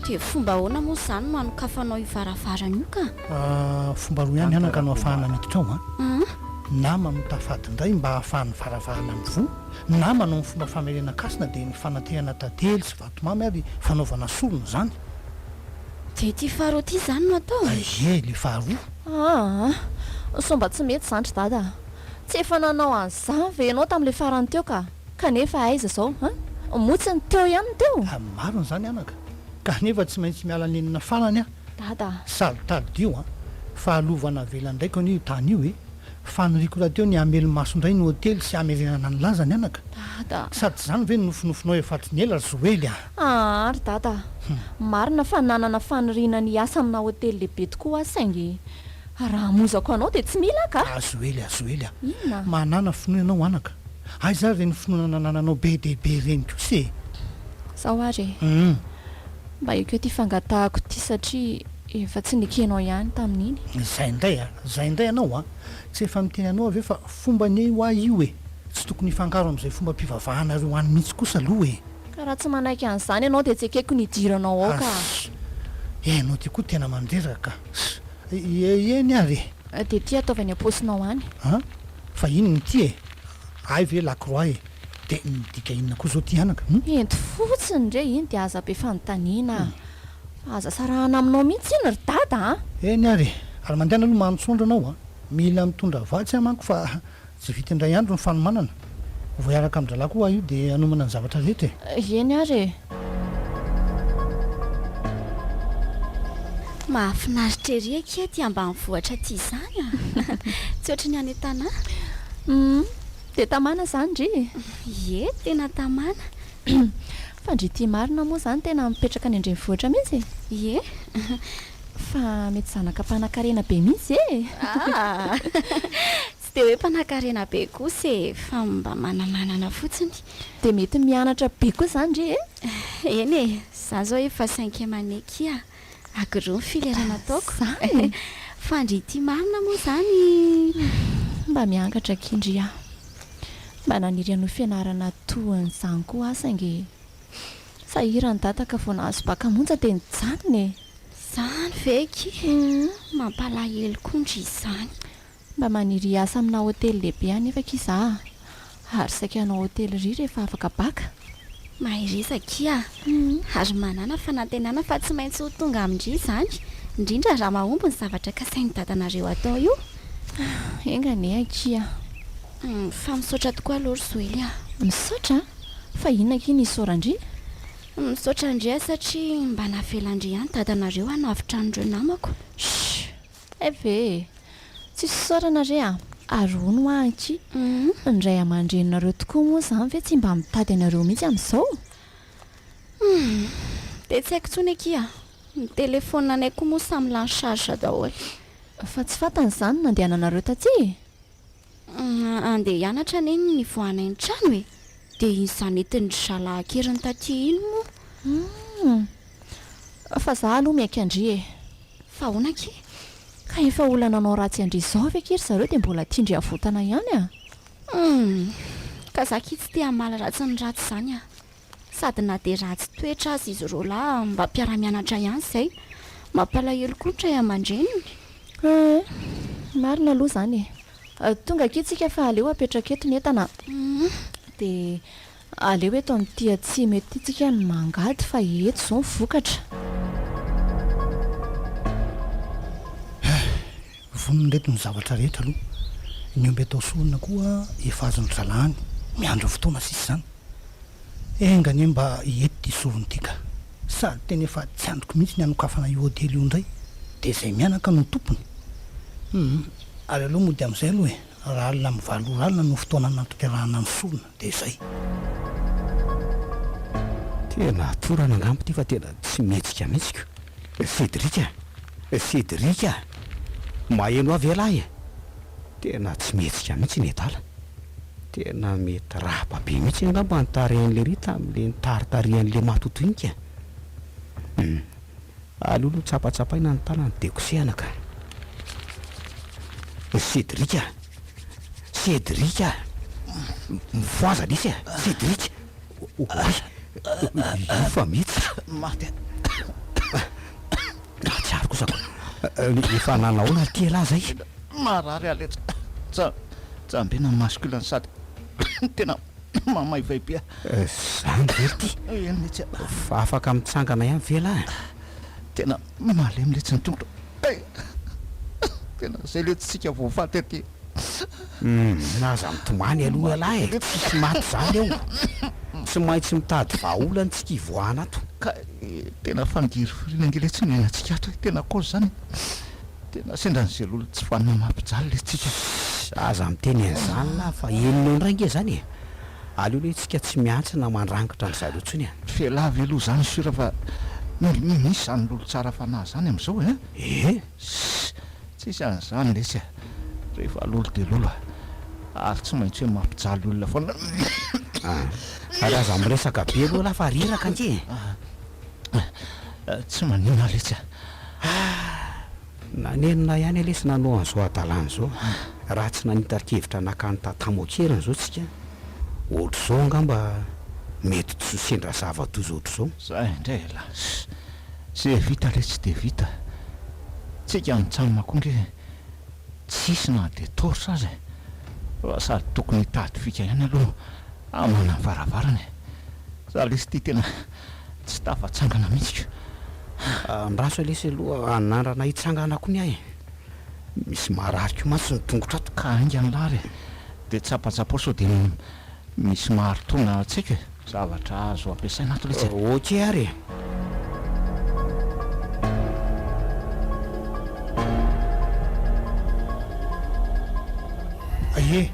dia fomba ahoana moa izany no hanokafanao io varavarana io ka? Aah fomba roa ihany anaka no ahafahana miditra ao a! Humm. Na mamotà fady indray mba ahafahan'ny varavarana mivoha, na manao ny fomba famerenan-kasina dia ny fanatehana tadely sy vatomamy ary fanaovana sorona izany. Dia ity faharoa ity izany no atao? Ie, ilay faharoa. Aa! sao mba tsy mety izany ry dada a! Tsy efa nanao an'izany ve ianao tamin'ilay farany teo ka! Kanefa aiza izao a! Moa tsy ny teo ihany no teo? A! Marina izany anaka, kanefa tsy maintsy miala nenina farany aho. Dada a! Sady tadidio a! Fahalova navelan-draiko anie io tany io e! Faniriako rahateo ny hamely maso indray ny hotely sy hamerenana ny lazany anaka. Dada a! Sady tsy izany ve ny nofinofinao efa hatrin'ny ela ry Zoely a! Aa ry dada a! Marina fa nanana faniriana ny hiasa amina hotely lehibe tokoa aho saingy raha hamonjako anao dia tsy mila aho kah! Azo ela, azo ela. Inona? Manana finoana ianao anaka. Aiza ary ireny finoana nanananao be dia be ireny kosa e! Izao ary e! Hum. Mba ekeo ity fangatahako ity satria efa tsy nekenao ihany tamin'iny. Izay indray a! Izay indray ianao a! Tsy efa miteny anao aho ve fa fomba anie ho ahy io e! Tsy tokony hifangaro amin'izay fombam-pivavahanareo any mihitsy kosa aloha e! Ka raha tsy manaiky an'izany ianao dia tsy ekeko ny hidiranao ao ka. Ass. Ianao ty koa tena mandreraka ka. Ass. Eny ary e. Dia ity ataovy any am-paosinao any. An? Fa inona ity e? Hay ve lakroa e? Dia midika inona koa izao ity anaka? Hum? Ento fotsiny re iny dia aza be fanontaniana a. Aza sarahana aminao mihitsy iny ry dada a. Eny ary e. Ary mandehana aloha manontsoandra anao a. Mila mitondra vatsy aho manko fa Tsy vita indray andro ny fanomanana. Vao hiaraka amin-drahalahy koa aho io dia hanomana ny zavatra rehetra e! Eny ary e! Mahafinaritra ery akia aty ambanivohitra aty izany a! Tsy ohatry ny any an-tanà. Humm! Dia tamana izany ndry e! Ie, tena tamana. Fa ndry ity marina moa izany tena mipetraka any an-drenivohitra mihitsy e! Ie! Fa mety zanaka mpanankarena be mihitsy e! Aa! Tsy dia hoe mpanankarena be kosa e, fa mba manamanana fotsiny. Dia mety mianatra be koa izany re e? Eny e, izaho izao efa cinquième année kia, agroa ny filière nataoko. Izany? Fa ndry ity marina moa izany? Mba miangatra akia ndry aho. Mba naniry hanohy fianarana toa an'izany koa aho saingy e. Sahirana dada ka vao nahazo bac monja dia nijanona e. Izany ve akia? Mampalahelo koa ndry izany. Mba maniry hiasa amina hotely lehibe anefa akia za a! Ary saika hanao hotellerie rehefa afaka bac. Mahereza akia a! Ary manàna fanantenana fa tsy maintsy ho tonga amin-dry izany, indrindra raha mahomby ny zavatra kasain'i dadanareo atao io. Enga anie akia a! Fa misaotra tokoa aloha ry Zoely a! Misaotra a! Fa inona akia ny isaoran-dry? Misaotra an-dry a satria mba navelan-dry ihany dadanareo hanavotra an'ireo namako. Shh! Ev e! Tsy fisaorana re a! Ary hono hoa anky, ny ray aman-dreninareo tokoa moa izany ve tsy mba mitady anareo mihitsy amin'izao? Dia tsy haiko intsony akia a! Ny telefaonina anay koa moa samy lany charge daholo. Fa tsy fantany izany ny nandehananareo taty e! Andeha hianatra anie ny nivoahanay ny trano e! Dia iny zanetindry zalahy an-keriny taty iny moa. Humm! Fa za aloha miaiky an-dry e! Fa ahoana akia? Ka efa olona nanao ratsy an-dry izao ve akia ry zareo dia mbola tian-dry havotana ihany a! Humm! Ka za akia tsy te hamaly ratsy ny ratsy izany a! Sady na dia ratsy toetra aza izy roalahy mba mpiara-mianatra ihany izay. Mampalahelo koa ny ray aman-dreniny. Ee, marina aloha izany e. Tonga akia tsika fa aleo apetraka eto ny entana a. Dia aleo eto amin'ity atsimo eto ity tsika no mangady fa eto izao ny vokatra. Vonona ireto ny zavatra rehetra aloha ny omby atao sorona koa efa azon-dry zalahany miandry ny fotoana sisa izany. Enga anie mba hety ity sorona ity ka. Sady tena efa tsy andriko mihitsy ny hanokafana io hotely io indray dia izay mianaka no tompony. Humm, ary aleo mody amin'izay aloha e, raha alina amin'ny valo ora alina no fotoana hanatanterahana ny sorona. dia zay. Tena atorana angamba ity fa tena tsy mihetsika mihitsy ko. Cédric a! Cédric a! Maheno ahy ve lahy e! Tena tsy mihetsika mihitsy i Nedala. Tena mety raba be mihitsy angamba ny tarehin'i Lery tamin'ilay nitaritarihan'i Lema totoinka e! Hum. Aleo aloha tsapatsapaina ny tanany dia kosehana ka. Cédric a! Cédric a! Mifohaza nisy a! Cédric! Oay! Io fa mihitsy! Maty a! Nahatsiaro kosa aho! Efa nanahoana ary ty elah zay? Marary aho letsy! Tsa, tsambina masculin sady tena mamaivay be aho! Zany ve ry ty? Eny mihitsy a! Fa afaka mitsangana ihany ve elah? Tena malemy letsy ny tongotra eh! Tena zay letsy tsika voafaty aty eh! Aza mitomany aloha lahy eh! Tsisy maty zany ao! Tsy maintsy mitady vahaolana tsika hivoahana ato! Ka eh! Tena fangirifiriana ange letsy ny iainantsika ato eh! Tena kôzy zany eh! Tena sendra ny zelolona tsy vanona mampijaly letsy tsika! Aza miteny an'izany lahy fa henonao indray ange zany eh! Aleo lay tsika tsy miantsina mandrangitra an zareo tsony an. F'elah ve aloha zany sur fa mil mi misy zany lolo tsara fanahy zany amzao eh? Ee! Ss! Tsisy an'izany lesy eh! Rehefa lolo dia lolo eh! Ary tsy maintsy hoe mampijaly olona foana eh! Ary aza miresaka be aloha lah fa reraka ange eh! Tsy manina lesy eh! Ah! Nanenina ihany anie sy nanao an'izao hadalana izao a! Raha tsy nanita-kevitra naka an'i Tatamo an-keriny izao tsika, ohatr'izao angamba mety tsy ho sendra zava-doza ohatr'izao. Zay indray elas! Ze vita le tsy de vita! Tsika an-tsamma koa nge tsisy na de torche aza e! Fa sady tokony hitady fika ihany aloha aman'am-varavarana e! Zalisty tena Tsy tafatsangana mihitsy ka. Andraso lesy aloha anandrana hitsangana koa ny ahy e. Misy marary koa mantsy ny tongotro ato ka hainga ny lary e. Dia tsapatsapao sao dia misy maharitona antsika e. Zavatra azo ampiasaina ato lesy e. Ok ary e. Aie,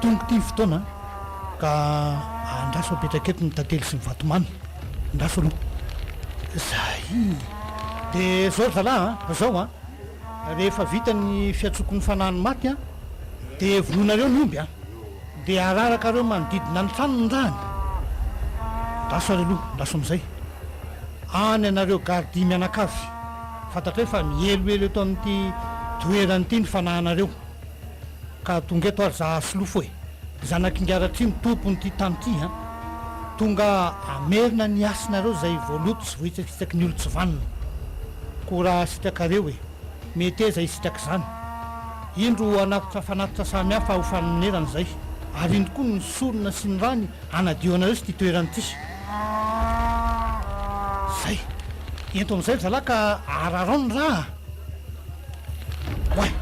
tonga ity ny fotoana an. Ka andraso apetraka eto ny tantely sy ny vatomamy. Andraso aloha. Zay! De zao ry zalahy a! Zao a! Rehefa vita ny fiantsoako ny fanahin'ny maty a! De vonoinareo ny omby a! De ararakareo manodidina ny tranony ny rahany. Andraso ary aloha, andraso amizay. Any anareo gardia mianakavy. Fantatrareo fa mihelohelo eto amin'ity toerana ity ny fanahinareo. Ka tonga eto ary za asolofo e! Zanak'Ingaratrihy no tompon'ity tany ity an! Tonga hamerina ny hasinareo izay voaloto sy voahitsakitsaky ny olon-tsivanona. Koa raha hasitrakareo e! Meteza hisitraka izany. Indro ho hanatitra fanatitra samihafa ho fanonerana izay, ary indro koa ny sorona sy ny rany hanadio anareo sy ity toerana ity. Izay! Ento amin'izay ry zalahy ka ararao ny ra a! Oay!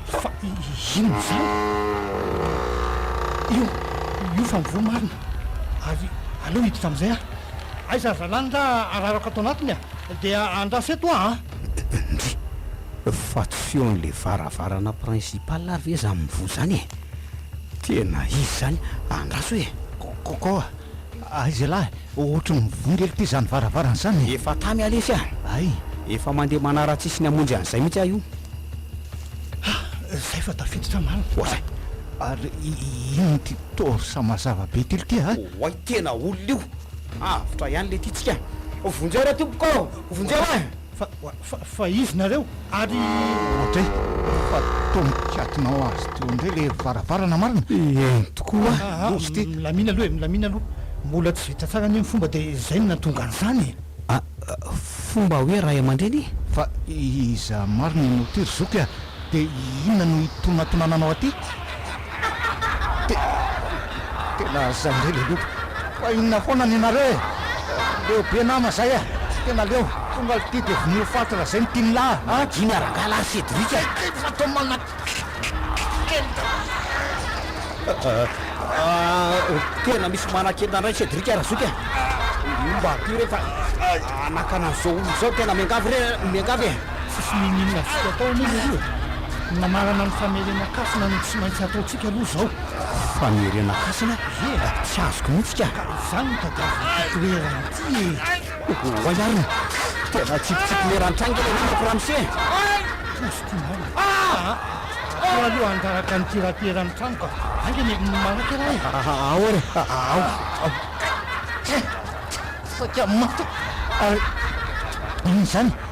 Fa inona izany? Io, io fa mivoha marina. Ary aleo hiditra amin'izay aho. Aiza ry zalahy ny ra ararako ato anatiny a! Dia andraso eto aho an! Ndry! Fa tsy feon'ilay varavarana principal ary ve izany mivoha izany e? Tena izy izany! Andraso e! Kôkôkô! Aiza lahy? Ohatry ny mivongely ty zany varavarana zany e! Efa tamy alefy ah! Ay! Efa mandeha manaratsisy ny hamonjy an'izay mihitsy aho io! Ha! Zay fa tafiditra marina! Oay! Ary inona ty torsa mazava be tily ty a? Oay! Tena olona io! Avotra ihany le titsika! Vonjeo re tompoko! Vonjeo e! Fa, fa, fa izy nareo, ary. Audrey, efa tonon-kiatonao azy teo indray ilay varavarana marina? Eny tokoa. Aah, milamina aloha e, milamina aloha. Mbola tsy vita tsara anie ny fomba dia izay no nahatonga an'izany e. Ah, fomba hoe ray aman-dreny? Fa iza marina no tery zoky a? De inona no hitonatonananao aty? Te tena zay indray le loto. Fa inona foana ny nareo e? Leo be nama zay a! Tena leo! Tonga aty de vonoy ho faty ra zay ny tian'la a! Madio miaraka la Cédric a! Kay fa atao manakenda! Ahh tena misy manakenda indray Cédric Razoky a! Mba aty re fa anakana an'zao olona zao tena miangavy re miangavy e! Tsisy ninoninona antsika tao anie leroa e! Ny namarana ny famerenan-kasina no tsy maintsy ataontsika aloha izao. Famerenan-kasina? Ie e! Tsy azoko mihitsy ka! Ka izany no tadiavin'ity toerana ity e! Oay ary ny tena tsipitsipy leran-tranga ilay renako ramose e! Poziko ny aina. Aa! Aleo aloha hangalatra ny tirapiera ny trano ka! Aingana e! Manaka ialahy e! Ao ary e! Ao! Ao! Tsia! Saika maty aho! Ary inona izany?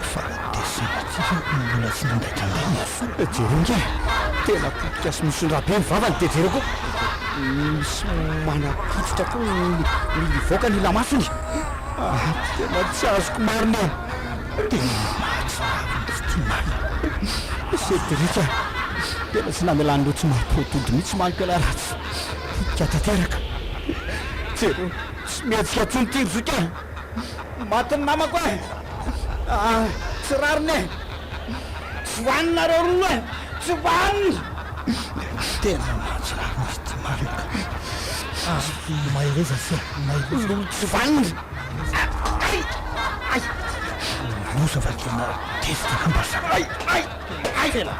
Fa dia sahy tsara hono ny olona tsy mandray tandremo e! Sao dia jereo ingahy e! Tena potika sy misondraha be ny vavany dia jereo koa misy manapotsitra koa ny mivoaka ny ilamasony! Aa! Tena tsy azoko marina e! Tena mahatsiravina ny tsy tia marina i Cédric a! Tena tsy namelany loha tsy mampihodimpody mihitsy manko ialahy raha tsy hika tanteraka! Jereo tsy mihetsika intsony ity ry zoky a! Maty ny namako eh! Ah, tsy rariny eh! Tsy hohaniny nareo roa eh! Tsy hohaniny! Tena mahatsiaro azy tsy manaka. Ah, ny mahereza tsy eh! Ny mahereza. Tsy hohaniny! Ay! Ay! Ay! Nanosa fa tena tezitra lamba sa. Ay! Ay! Aizena!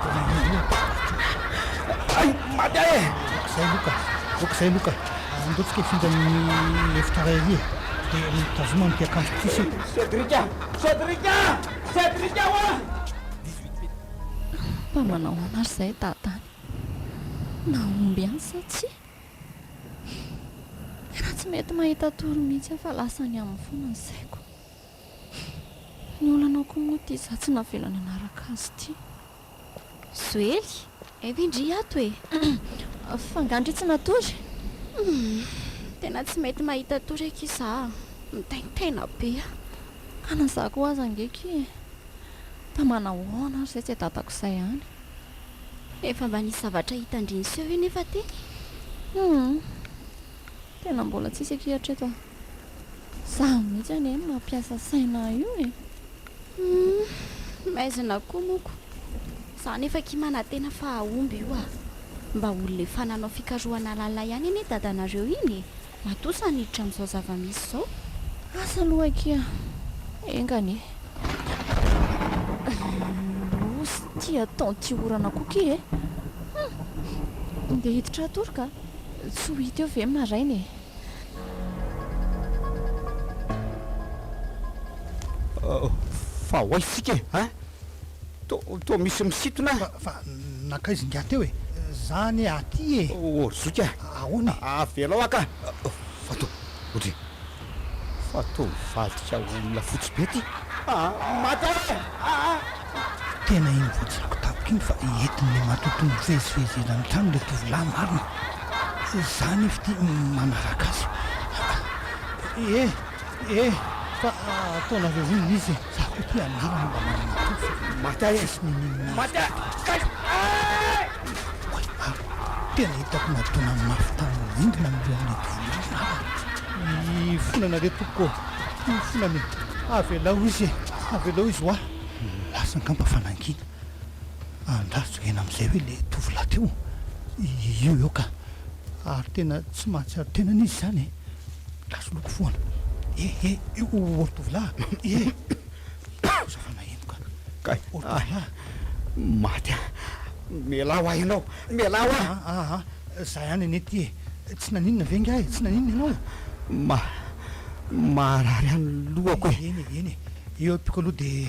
Ay! Maty aho e! Aok'izay aloha ka! Aok'izay aloha ka! Andao tsika hifindra amin'ny efitra iray ery e! Dia mitazoma amin'ity akanjoko ity isika! Cédric a! Cédric a! Cédric a! Fa manao ahoana ary izay dada any? Nahomby any sa tsia? Tena tsy mety mahita tory mihitsy aho fa lasa any aminy foana ny saiko. Ny olanao koa moa ity za tsy navela nanaraka azy ity. Joely, hay ve ndry ato e! Fa nga ndry tsy natory? Tena tsy mety mahita tory akia za a! Mitaintaina be a! Ka na za koa aza ange akia e! Fa manahoana ary zay tsy dadako zay any? Efa mba nisy zavatra hita ndry niseho io nefa teny e! Humm! Tena mbola tsisy akia hatreto a! Izaho mihitsy anie no mampiasa saina io e! Humm! Maizina koa moa ko! Izaho anefa akia manantena fa hahomby io ah! Mba olona efa nanao fikarohana lalina ihany anie dadanareo iny e! Matoa sa niditra amin'izao zava-misy izao? Asa aloha akia! Enga anie! Lous ity ataon'ity orana koa ity e! Humm! Ndeha hiditra hatory ka! Tsy ho hita eo ve maraina e! Fa ahoana isika e? Hein? Toa, toa misy misintona an! Fa, fa nankaiza ingahy teo e? Za anie aty e! O ry zoky a! Ahoana e? Avelao aho ka! Fa toa, odry e! Fa toa mivadika olona fotsy be ty! Aa! Maty aho e! Aa! Tena iny vao jereko tampoka iny fa entin' ny matoato mivezivezy eny amin'ny trano ilay tovolahy marina. Izaho anefa ity manaraka azy. Aa ee ee fa ataonareo inona izy e? Izaho koa ity anarany mba manana toky fa maty aho e! Tsy niniana azy tato aho. Kay ee! Oay ary tena hitako nadona mafy tany amin'ny rindrina ny lohan'ilay tovolahy marina. Hifonana re tompoko ô! Hifonana e! Avelao izy e! Avelao izy ho ahy. Lasa angamba fa nangina an-draha Joena amin'izay ve ilay tovolahy teo? Io eo ka! Ary tena tsy mahatsiaro tenany izy izany e! Gasoloky foana. Eh eh! Io ry tovolahy eh! Lasa fa naheno ka! Kay! O ry tovolahy! Maty an! Mialà ho ahy ianao! Mialà ho ahy! Ah ah! Za ihany anie ity e! Tsy naninona ve ingahy e! Tsy naninona ianao? Ma, maharary ihany ny lohako e! Eny e! Eny e! Eo ampiko aloha dia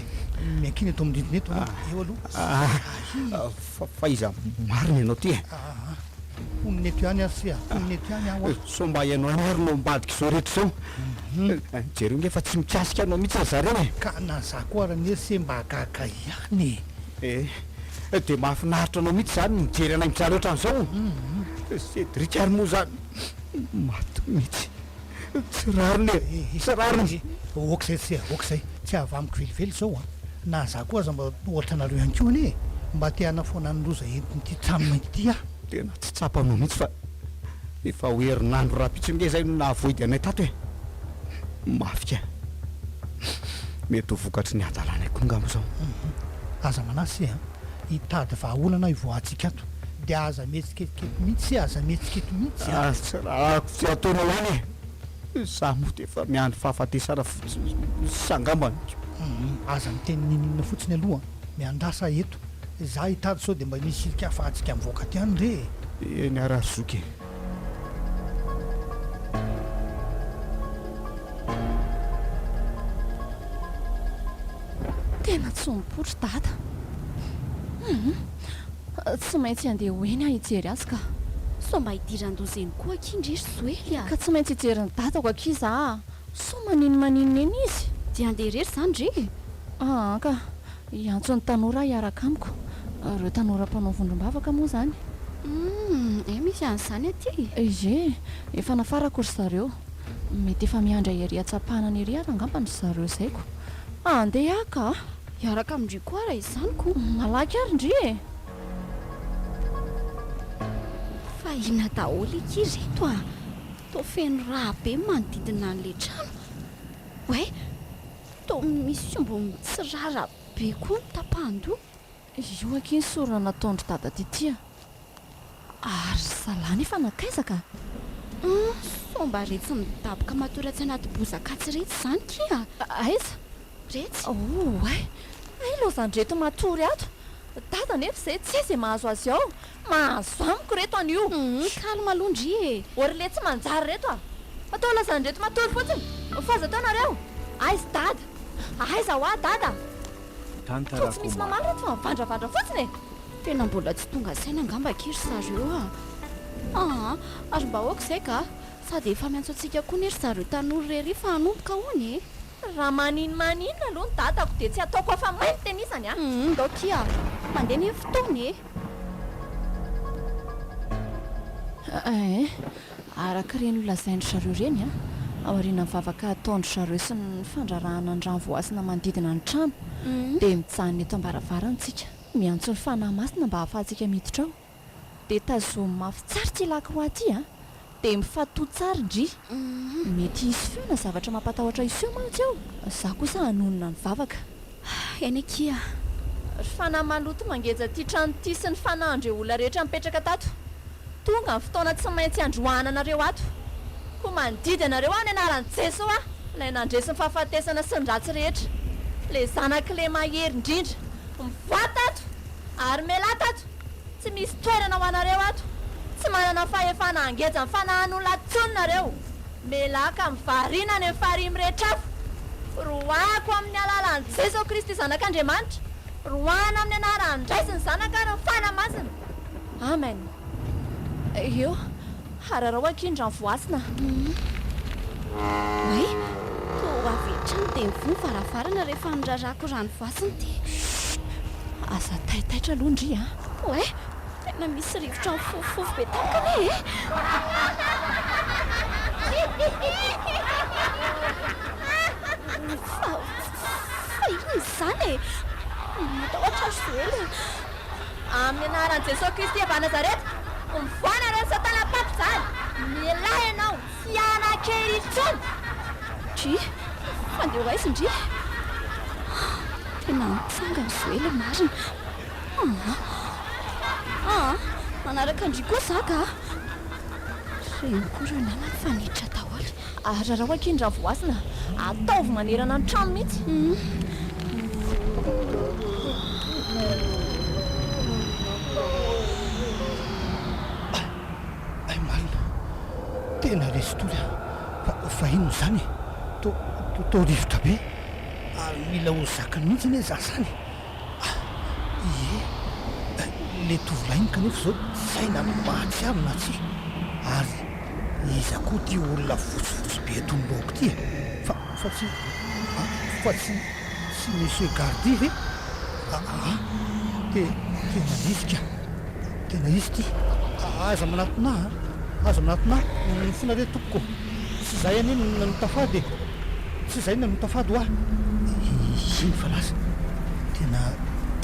miankina eto amin'ny rindrina eto aloha, eo aloha. Fa fa iza marina ianao ity e? Aa, mponina eto ihany aho se a, mponina eto ihany aho a. Sao mba ianao ihany no ambadika izao rehetra izao? Hum. Jereo nge fa tsy mikasika anao mihitsy ry zareo e! Ka na za koa ary anie se mba gaga ihany e! Eh, dia mahafinaritra anao mihitsy izany ny mijery anay mijaly ohatran'izao? Hum. Cédric ary moa izany maty mihitsy. Tsy rariny le e, tsy rariny izy e, ok zay, tsy ok zay, tsy avy amiko velively zao an, na za koa aza mba ohatra anareo ihany koa anie e, mba te hanafoana ny loza entin'ity trano mainty ity aho. Tena tsy tsapanao mihitsy fa efa ho herinandro rahampitso ange zay no nahavoidy anay tato e, mafy kay, mety ho vokatry ny hadalanay koa ngamba zao. Aza manasa e, hitady vahaolana aho hivoahantsika ato, dia aza mihetsi. Kelikely mihitsy e, aza mihetsikety mihitsy a! Tsy rarako tsy ataonao ihany e! Izaho moa dia efa miandry fahafatesana fotsiny sy angambany ko! Aza miteny ninoninona fotsiny aloha an! Miandrasa aho eto, izaho hitady sao dia mba misy ilika afahantsika mivoaka aty any re e! Eny ara zoky e! Tena tsy mipoitra i Dada! Hum! Tsy maintsy handeha ho eny aho hijery azy ka. Sao mba hidiran-doza eny koa akia ndry ry Joely a! Ka tsy maintsy hijery ny dadako akia za a! Sao maninomaninona eny izy? Dia handeha irery izany re e! Aa ka! Hiantso ny tanora hiaraka amiko. Ireo tanora mpanao vondrom-bavaka moa izany. Humm! Hay misy an'izany aty e! Ie, efa nafarako ry zareo. Mety efa miandry ahy ery an-tsampànana ery ary angamba no zarozaiko. Handeha aho ka! Hiaraka amin-dry koa raha izany ko. Malaky ary ndry e! Fa inona daholo eky ireto a! Toa feno rà be ny manodidina an'ilay trano. Oay! Toa misy omby mitsirara be koa ny tapahan-doha. Io akia ny sorona nataon-dry dada Titia. Ary ry zalahy nefa nankaiza ka? Hum, sao mba retsy midaboka matory atsy anaty bozakatsy retsy izany kia? Aiza? Retsy. Oay, hay loza an'ireto matory ato. Dada nefa izay tsy hay izay mahazo azy ao. Mahazo amiko ireto anio. Hum, calme aloha ndry e. Ô ry le tsy manjary ireto a! Atao lazan'ireto matory fotsiny fa aza atao nareo. Aiz dada? Aiza hoa dada? Tantara Toa tsy misy mamaly ireto fa mivandravandra fotsiny e! Tena mbola tsy tonga saina angamba akia ry zareo a! Aa! ary mba aoka izay ka! sady efa miantso antsika koa anie ry zareo tanora irery fa hanomboka hono e! Raha manin manin aloha ny dadako dia tsy ataoko afa main tenisany a! Hum ndao akia! mandeha anie ny fotoana e! Eeh! araka ireny ho lazain dry zareo ireny a! aorianan'ny vavaka hataon dry zareo sy ny fandrarahana ny rano voasana manodidina ny trano dia mijanona eto ambaravarana tsika. Miantso ny Fanahy Masina mba hahafahantsika miditra ao. Dia tazomy mafy tsara ity lakroa ity a! Dia mifatoha tsara ndry! Mety hisy feo na zavatra mampatahotra hiseho mantsy ao. Izaho kosa hanonona ny vavaka. Eny akia! Ry Fanahy maloto mangeja ity trano ity sy ny Fanahy ndreo olona rehetra nipetraka tato. Tonga ny fotoana tsy maintsy handroahana anareo ato. Koa mandidy anareo aho ny anaran'i Jeso aho, ilay nandresy ny fahafatesana sy ny ratsy rehetra. Ilay Zanak'ilay Mahery indrindra. Mivoata ato ary melato ato, tsy misy toerana ho anareo ato, tsy manana fahefana hangeja ny fanahan'olona ato intsony nareo, melaka amin'ny variana any amin'ny farihy mirehitra hafa, roahako amin'ny alalan'i Jeso Kristy Zanak'Andriamanitra, roahana amin'ny anaran'ny Ray sy ny Zanaka ary ny Fanahy Masina. Amen. Eo. Hararao akia ny rano voasana. Way, toa ho avy hatrany dia mivoha ny varavarana rehefa nirarako rano voasana ity. Aza taitaitra aloha ndry a! Way, tena misy rivotra mifofofofo be tampoka anie e! Fa, fa inona izany e? Matahotra aho Joël a! Amin'ny anaran'i Jesoa Kristy avy any Nazareta, ovoana ireny satana mpaty izany! Milay ianao tsy hanan-kery intsony! Ndry! Handeha ho aiza ndry? Tena nitsanga ny zoela marina! Aa! Aa! Manaraka an-dry koa za ka! Reniko ireo namany fa niditra daholo! Ararao akia ny ravohasina, ataovy manerana ny trano mihitsy. Hay marina, tena resy tory aho fa inona izany e? Toa rivotra be ary mila ho zakany mihitsy anie izaho izany. Ah! Ie! Ilay tovolahy iny kanefa izao saina mahatsiaro na tsia? Ary iza koa ity olona fotsifotsy be eto anoloako ity e? Fa, fa tsy, ah, fa tsy, tsy Monsieur Gardy ve? Aa! Te, tena izy ka! Tena izy ity! Aza manatona ahy an! Aza manatona ahy! Mifona re tompoko! Tsy zay anie no nanotafady e! Tsy zay no nanotafady hoa! Eny fa lasa tena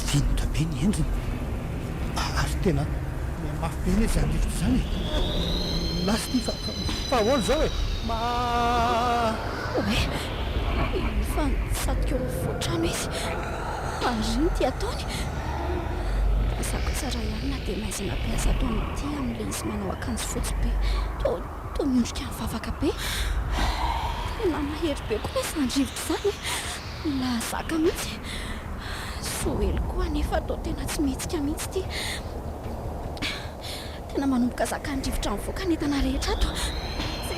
vendrana be ny endriny ary tena mihamafy be anie izany rivotra izany e! Lasa ity fa fahaolo izao e! Ma. Oay! Efa nitsatoka eo afotrano izy ary iny ity ataony! Mazava tsara ihany na dia maizina be aza ato amin'ity amin'ilay izy manao akanjo fotsy be. Toa. Toa miondrika mivavaka be. Tena mahery be koa izany rivotra izany e! Lahazaka mihitsy. Joely koa anefa toa tena tsy mihetsika mihitsy ity. Tena manomboka zakan'ny rivotra mivoaka ny entana rehetra ato. Je,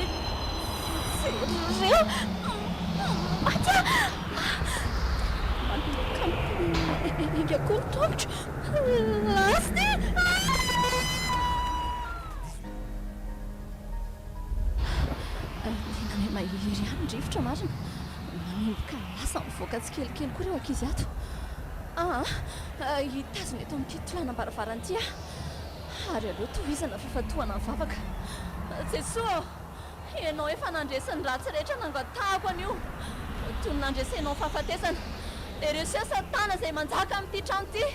jereo! Maty aho! Manomboka mipaingapainga koa ny tongotro. Lasty! Ah! Ilay mahery ery any rivotra marina. Manomboka lasa mivoaka tsikelikely koa ireo ankizy ato. Aa! Hitazona eto amin'ity tohanam-baravarana ity aho. Ary aleo tohizana f'efa tohana ny vavaka. Jesoa ô! Ianao efa nandresy ny ratsy rehetra nangatahako anio toy ny nandresenao ny fahafatesana. Ereseo Satana izay manjaka amin'ity trano ity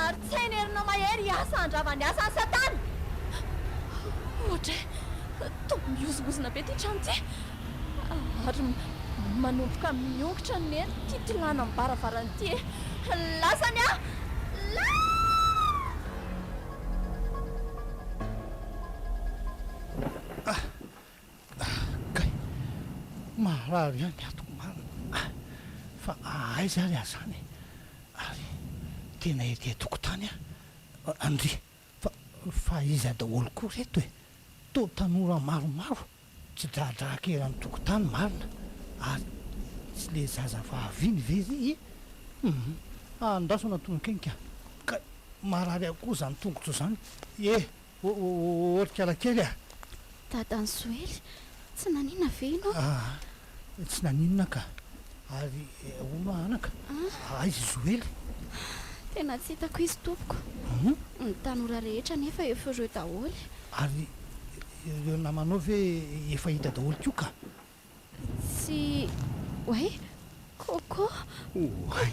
ary tsy hainy herina mahery hiasa handrava ny asan'i Satana. Ohatra hoe toa mihozongozona be ity trano ity ary manomboka miongotra ny hery kitilana amin'ny varavarana ity e! Lasany aho! Lasany! Ah! Ah! Kay! Maharary ihany ny atoko marina ah! Fa aiza ary aho zany eh! Ary tena ety an-tokotany aho ah! Ndry! Fa fa iza daholo koa reto eh! Toa tanora maromaro tsy dradraaka eran'ny tokotany marina ary tsy le zaza vavy iny ve ry eh! Hum! Andraso anatona akaiky aho! Kay! Maharary akory zany tongotro zany eh! Otrikala kely a! Dadan'i Joely, tsy naninona ve ianao? Aa! tsy naninona ka! Ary hono anaka, aiza i Joely? Tena tsy hitako izy tompoko. Ny tanora rehetra anefa efa ireo daholo e! Ary ireo namanao ve efa hita daholo koa ka! Tsy hoe Coco, Coco. Oay,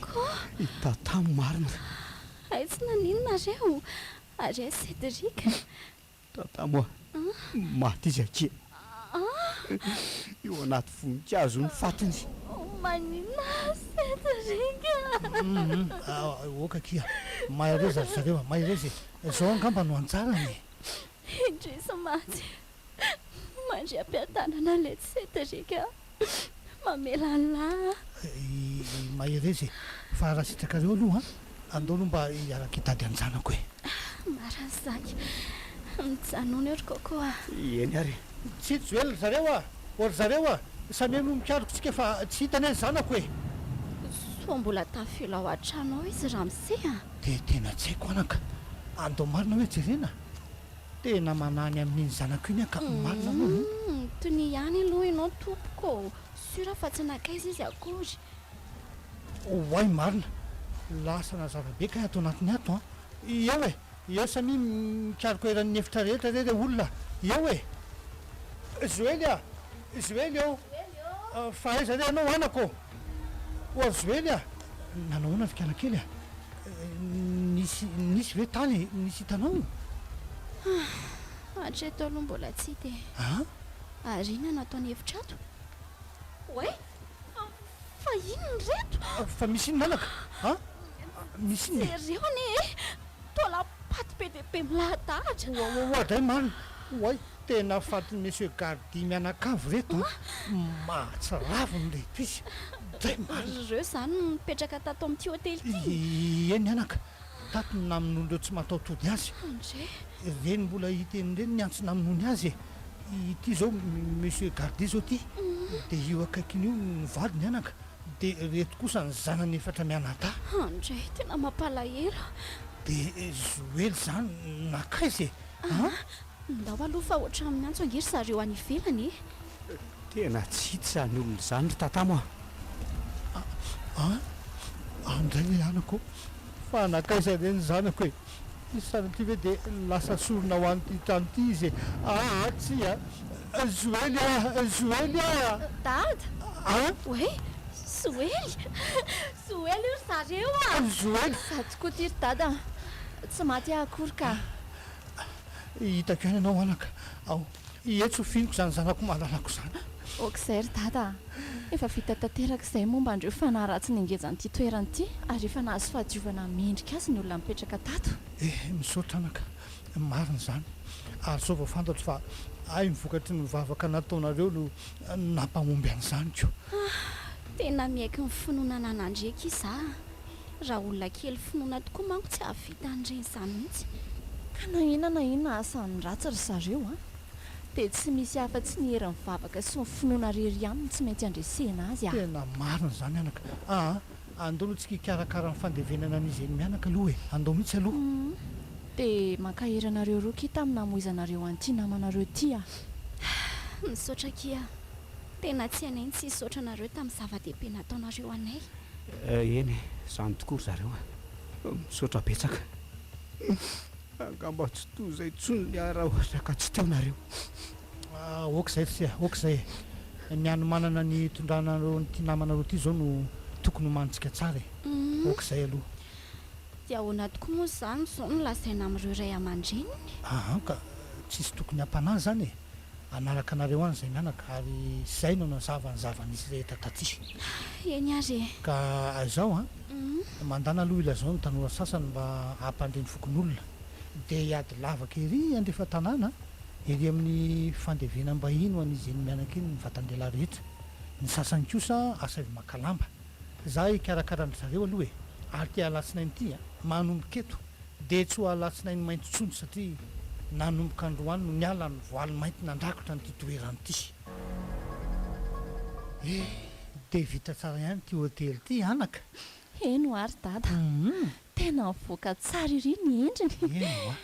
i Tata marina. Hay tsy naninona nareo, ary hay Cédric. Tata moa maty izy akia. Eo anaty voninkazo ny fatiny. Maninona Cédric a. Ok akia, mahereza ry zareo a, mahereza e. Zao angamba no anjarany e. Indrisy maty. Mandria am-piadanana letsy Cedric a! Mamela an'lah a! I Mahereza e! Fa raha sitrakareo aloha andao aloha mba hiaraka hitady an-janako e! Marina Zaky! Mijanona eo ry Coco a! Eny ary e! Tsy tsy ela ry zareo a! O ry zareo a! Samia no mikaroka tsika fa tsy hita anie ny zanako e! Soa mbola tafio lao an-trano ao izy Ramse a! Dia tena tsy haiko anaka! Andao marina hoe jerena! Tena manany amin'iny zanako iny aho ka marina moa no. Humm tonia ihany aloha ianao tompoko ô! Sûr aho fa tsy nankaiza izy akory. Oay marina! Lasa nazava be kay ato anatiny ato an! Eo e! Eo samia mikaroka eran'ny efitra rehetra re reo olona a! Eo e! Joely a! Joely ô! Fa aiza re ianao anako ô! Ho'a Joely a! Nanao ahoana ry kialakely a! Nisy, nisy ve tany e? Nisy hitanao? Ah! Hatreto aloha mbola tsy hita e! Ah? Ary inona no ataony hevitra ato? Oay! Fa inona ireto? Fa misy inona anaka? Ah! Misy inona e? Jereo anie e! Tola patte be dia be milahadahatra. Oaoaoa dray marina, oay tena fatin'i Monsieur Gardy mianakavy reto an! Mahatsiravina ilay episy dray marina. Ry reo zany no nipetraka tato amin'ity hotely ity? Eny anaka, tato no namonoan'ireo tsy mataho-tody azy. André. Ireny mbola hiteny ireny ny antso namonoany azy e! Ity izao Monsieur Gardy izao ity dia io akaikiny io no vadiny anaka. Dia reto kosa ny zanany efatra mianadahy. Andry, tena mampalahelo a! Dia Joely izany nankaiza e? Aa! Ndao aloha fa ohatran'ny miantso ange ry zareo any ivelany e! Tena tsy izany olona izany ry tatamo a! Aa! Andray e anako ô! Fa nankaiza re ny zanako e? Ity sary ity ve dia lasa sorona ho an'ity trano ity izy e? Aa tsia! Joely a! Joely a! Dada! An? Hoe? Joely? Joely io ry zareo a! Joely! Za tokoa ity ry dada an! Tsy maty aho akory ka! Hitako ihany ianao anaka ao. Ie tsy ho finiko izany zanako malalako izany. Ok zay ry dada a! Efa vita tanteraka izay momba an'ireo fanahy ratsy nengejany ity toerana ity ary efa nahazo fahadiovana mendrika azy ny olona mipetraka tato. Eh, misaotra anaka, marina izany, ary izao vao fantatro fa ahy ny vokatry ny vavaka nataonareo no nampahomby an'izany ko. Ah, tena miaiky ny finoana ananan'Andriaky iza a! Raha olona kely finoana tokoa manko tsy hahavita an'ireny izany mihitsy. Ka na inona na inona asan'ny ratsy ry zareo an! dia tsy misy afa-tsy ny herin'ny vavaka sy ny finoana irery ihany no tsy maintsy handresena azy an! Tena marina izany mianaka aa! Andao aloha tsika hikarakara ny fandevenana an'izy eny mianaka aloha e! Andao mihitsy aloha. Hum dia mankahery anareo roa akia tamin'ny namoizanareo an'ity namanareo ity an! Misaotra akia. Tena tsy anay ny tsy hisaotra anareo tamin'ny zava-dehibe nataonareo anay. Eny e, izany tokoa ry zareo a! Misaotra betsaka. Angamba tsy toy izay intsony ny ahy raha ohatra ka tsy teo nareo. Ok izay f'se a! Ok izay e! Ny hanomanana ny hitondrana anareo an'ity namanareo ity izao no tokony homanintsika tsara e! Ok izay aloha. Dia ahoana tokoa moa izany izao no lazaina amin'ireo ray aman-dreniny? Ahan ka! Tsisy tokony hampanahy izany e! hanaraka anareo any izay mianaka, ary izay no nazava ny zava-nisy rehetra taty. Eny ary e! Ka izao an! Mandàna aloha ilazao ny tanora sasany mba hampandre ny fokonolona, dia hiady lavaka ery andrefa tanàna, ery amin'ny fandevenam-bahiny ho an'izy eny mianaka eny ny vatan-dehilahy rehetra. Ny sasany kosa asaivo maka lamba. Za hikarakara an-dry zareo aloha e! Ary ty alatsinainy ty an! Manomboka eto! Dia tsy ho alatsinainy mainty intsony satria nanomboka androany no niala ny voaly mainty nandrakotra an'ity toerana ity. Eh! Dia vita tsara ihany ity hotely ity anaka? Heno ary dada! Tena mivoaka tsara ery ny endriny! Heno a!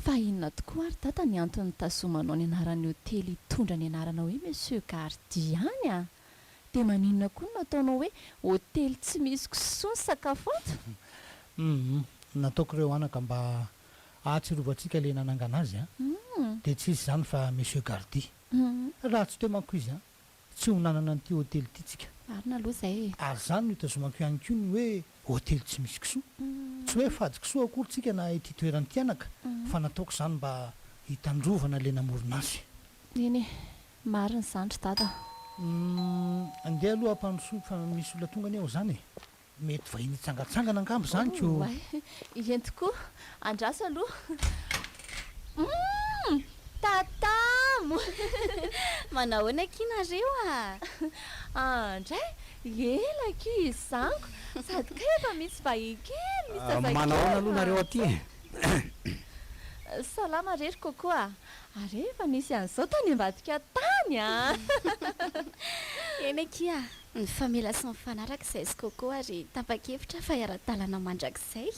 Fa inona tokoa ary dada ny antony nitazomanao ny anaran'ny hotely hitondra ny anarana hoe Monsieur Gardia any an! Dia maninona koa no nataonao hoe hotely tsy misy kisoa ny sakafo ato? Humm, nataoko ireo anaka mba hahatsirovantsika ilay nanangana azy an! Dia tsy izy izany fa Monsieur Gardy. Raha tsy teo manko izy an, tsy ho nanana an'ity hotely ity tsika. Marina aloha izay e! Ary izany no itazomako ihany koa ny hoe hotely tsy misy kisoa. Tsy hoe fady kisoa akory tsika na ity toerana ity anaka, fa nataoko izany mba hitandrovana ilay namorona azy. Eny e! Marina izany ry dada a. Umm andeha aloha ampandrosoy fa misy olona tonga anie ao zany e! Mety vahiny hitsangatsangana angamba zany ko! Oay! Eny tokoa! Andraso aloha! Umm! Tatamo! Manao ahoana akia nareo a! An ndray! Ela akia izanko! Sady kay efa misy vahiny kely misy zazakely fa! Manao ahoana aloha nareo aty e! Salama re ry coco a! Ary efa nisy an'izao tany ambadika tany an! Eny akia, nifamela sy nifanaraka izahay sy Coco ary tapa-kevitra fa hiara-dalana mandrakizay!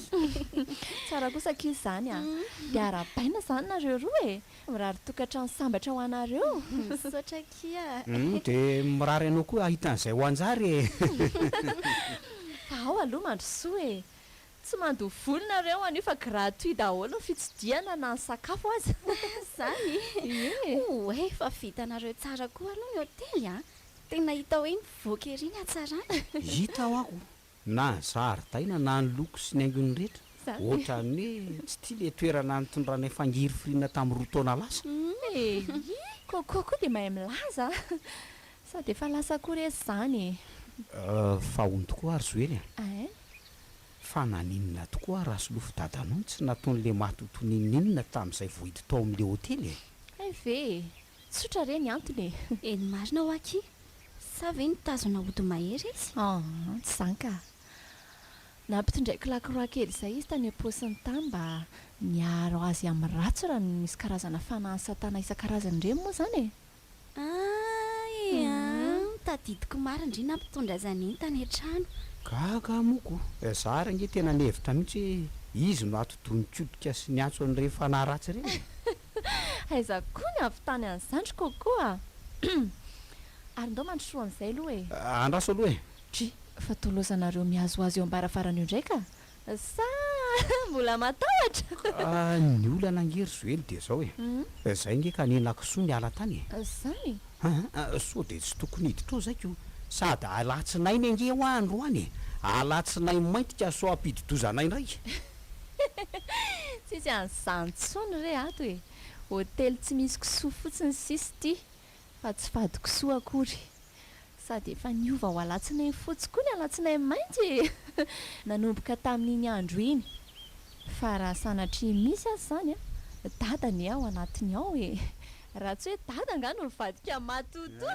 Tsara kosa akia izany an! Dia arahabaina izany nareo roa e! Mirary tokantrano sambatra ho anareo! Misaotra akia! Humm, dia mirary anao koa hahita an'izay ho hanjary e! Fa ao aloha mandrosoa e! Tsy mandoa vola nareo anio fa gratuit daholo ny fitsidihana na ny sakafo aza. Zany e! Oa e! Fa vitanareo tsara koa aloha ny hotely a! Tena hita hoe mivoaka ery ny hatsarany. Hita hoa ko! Na ny zaridaina na ny loko sy ny haingony rehetra ohatran'ny hoe tsy tia ilay toerana nitondranay fangirifiriana tamin'ny roa taona lasa. Eyy! Coco koa dia mahay milaza a! Sady efa lasa koa re zany e! Fa hono tokoa ary Joely a! Ein! Fa naninona tokoa Rasolofo dadanao tsy nataony le matoto ninoninona tamzay vo hiditra ao amle hotely e? Hay ve e! Tsotra re ny antony e! Eny marina hoa ki! Sa ve nitazona ody mahery izy? An! tsy zany ka! Nampitondraiko lakroa kely zay izy tany am-paosiny tany mba miaro azy amin'ny ratsy raha misy karazana fanahin'i satana isan-karazany ireny moa zany e! Aah ee aah tadidiko marina ndry nampitondra izany entana e trano. Gaga moko eh, za ary ange tena nihevitra mihitsy hoe izy no atidohan-koditra sy niantso an'ireny fanahy ratsy ireny e! Aiza koa ny havitany an'izany ry Coco a! Ary ndao mandrosoa an'izay aloha e! Andraso aloha e! Try, fa tolozanareo mihazohazo eo am-baravarana eo indray ka! Sa mbola matahotra? Ny olana ange ry Joely dia izao e, izay ange ka nenako soa niala tany e! Zany? Aa sao dia tsy tokony hiditra ao zay ko, sady alatsinainy ange hoa androany e! Alatsinainy mainty ka sao hampidi-doza anay indray! Tsisy an'izany intsony re ato e! Hotely tsy misy kisoa fotsiny sisa ity, Fa tsy fahadikisoa akory. Sady efa niova ho alatsinainy fotsy koa ny alatsinainy mainty e! Nanomboka tamin'iny andro iny. Fa raha sanatria misy aza izany an! Dada anie ao anatiny ao e! Raha tsy hoe dada angaha no nivadika matotoa!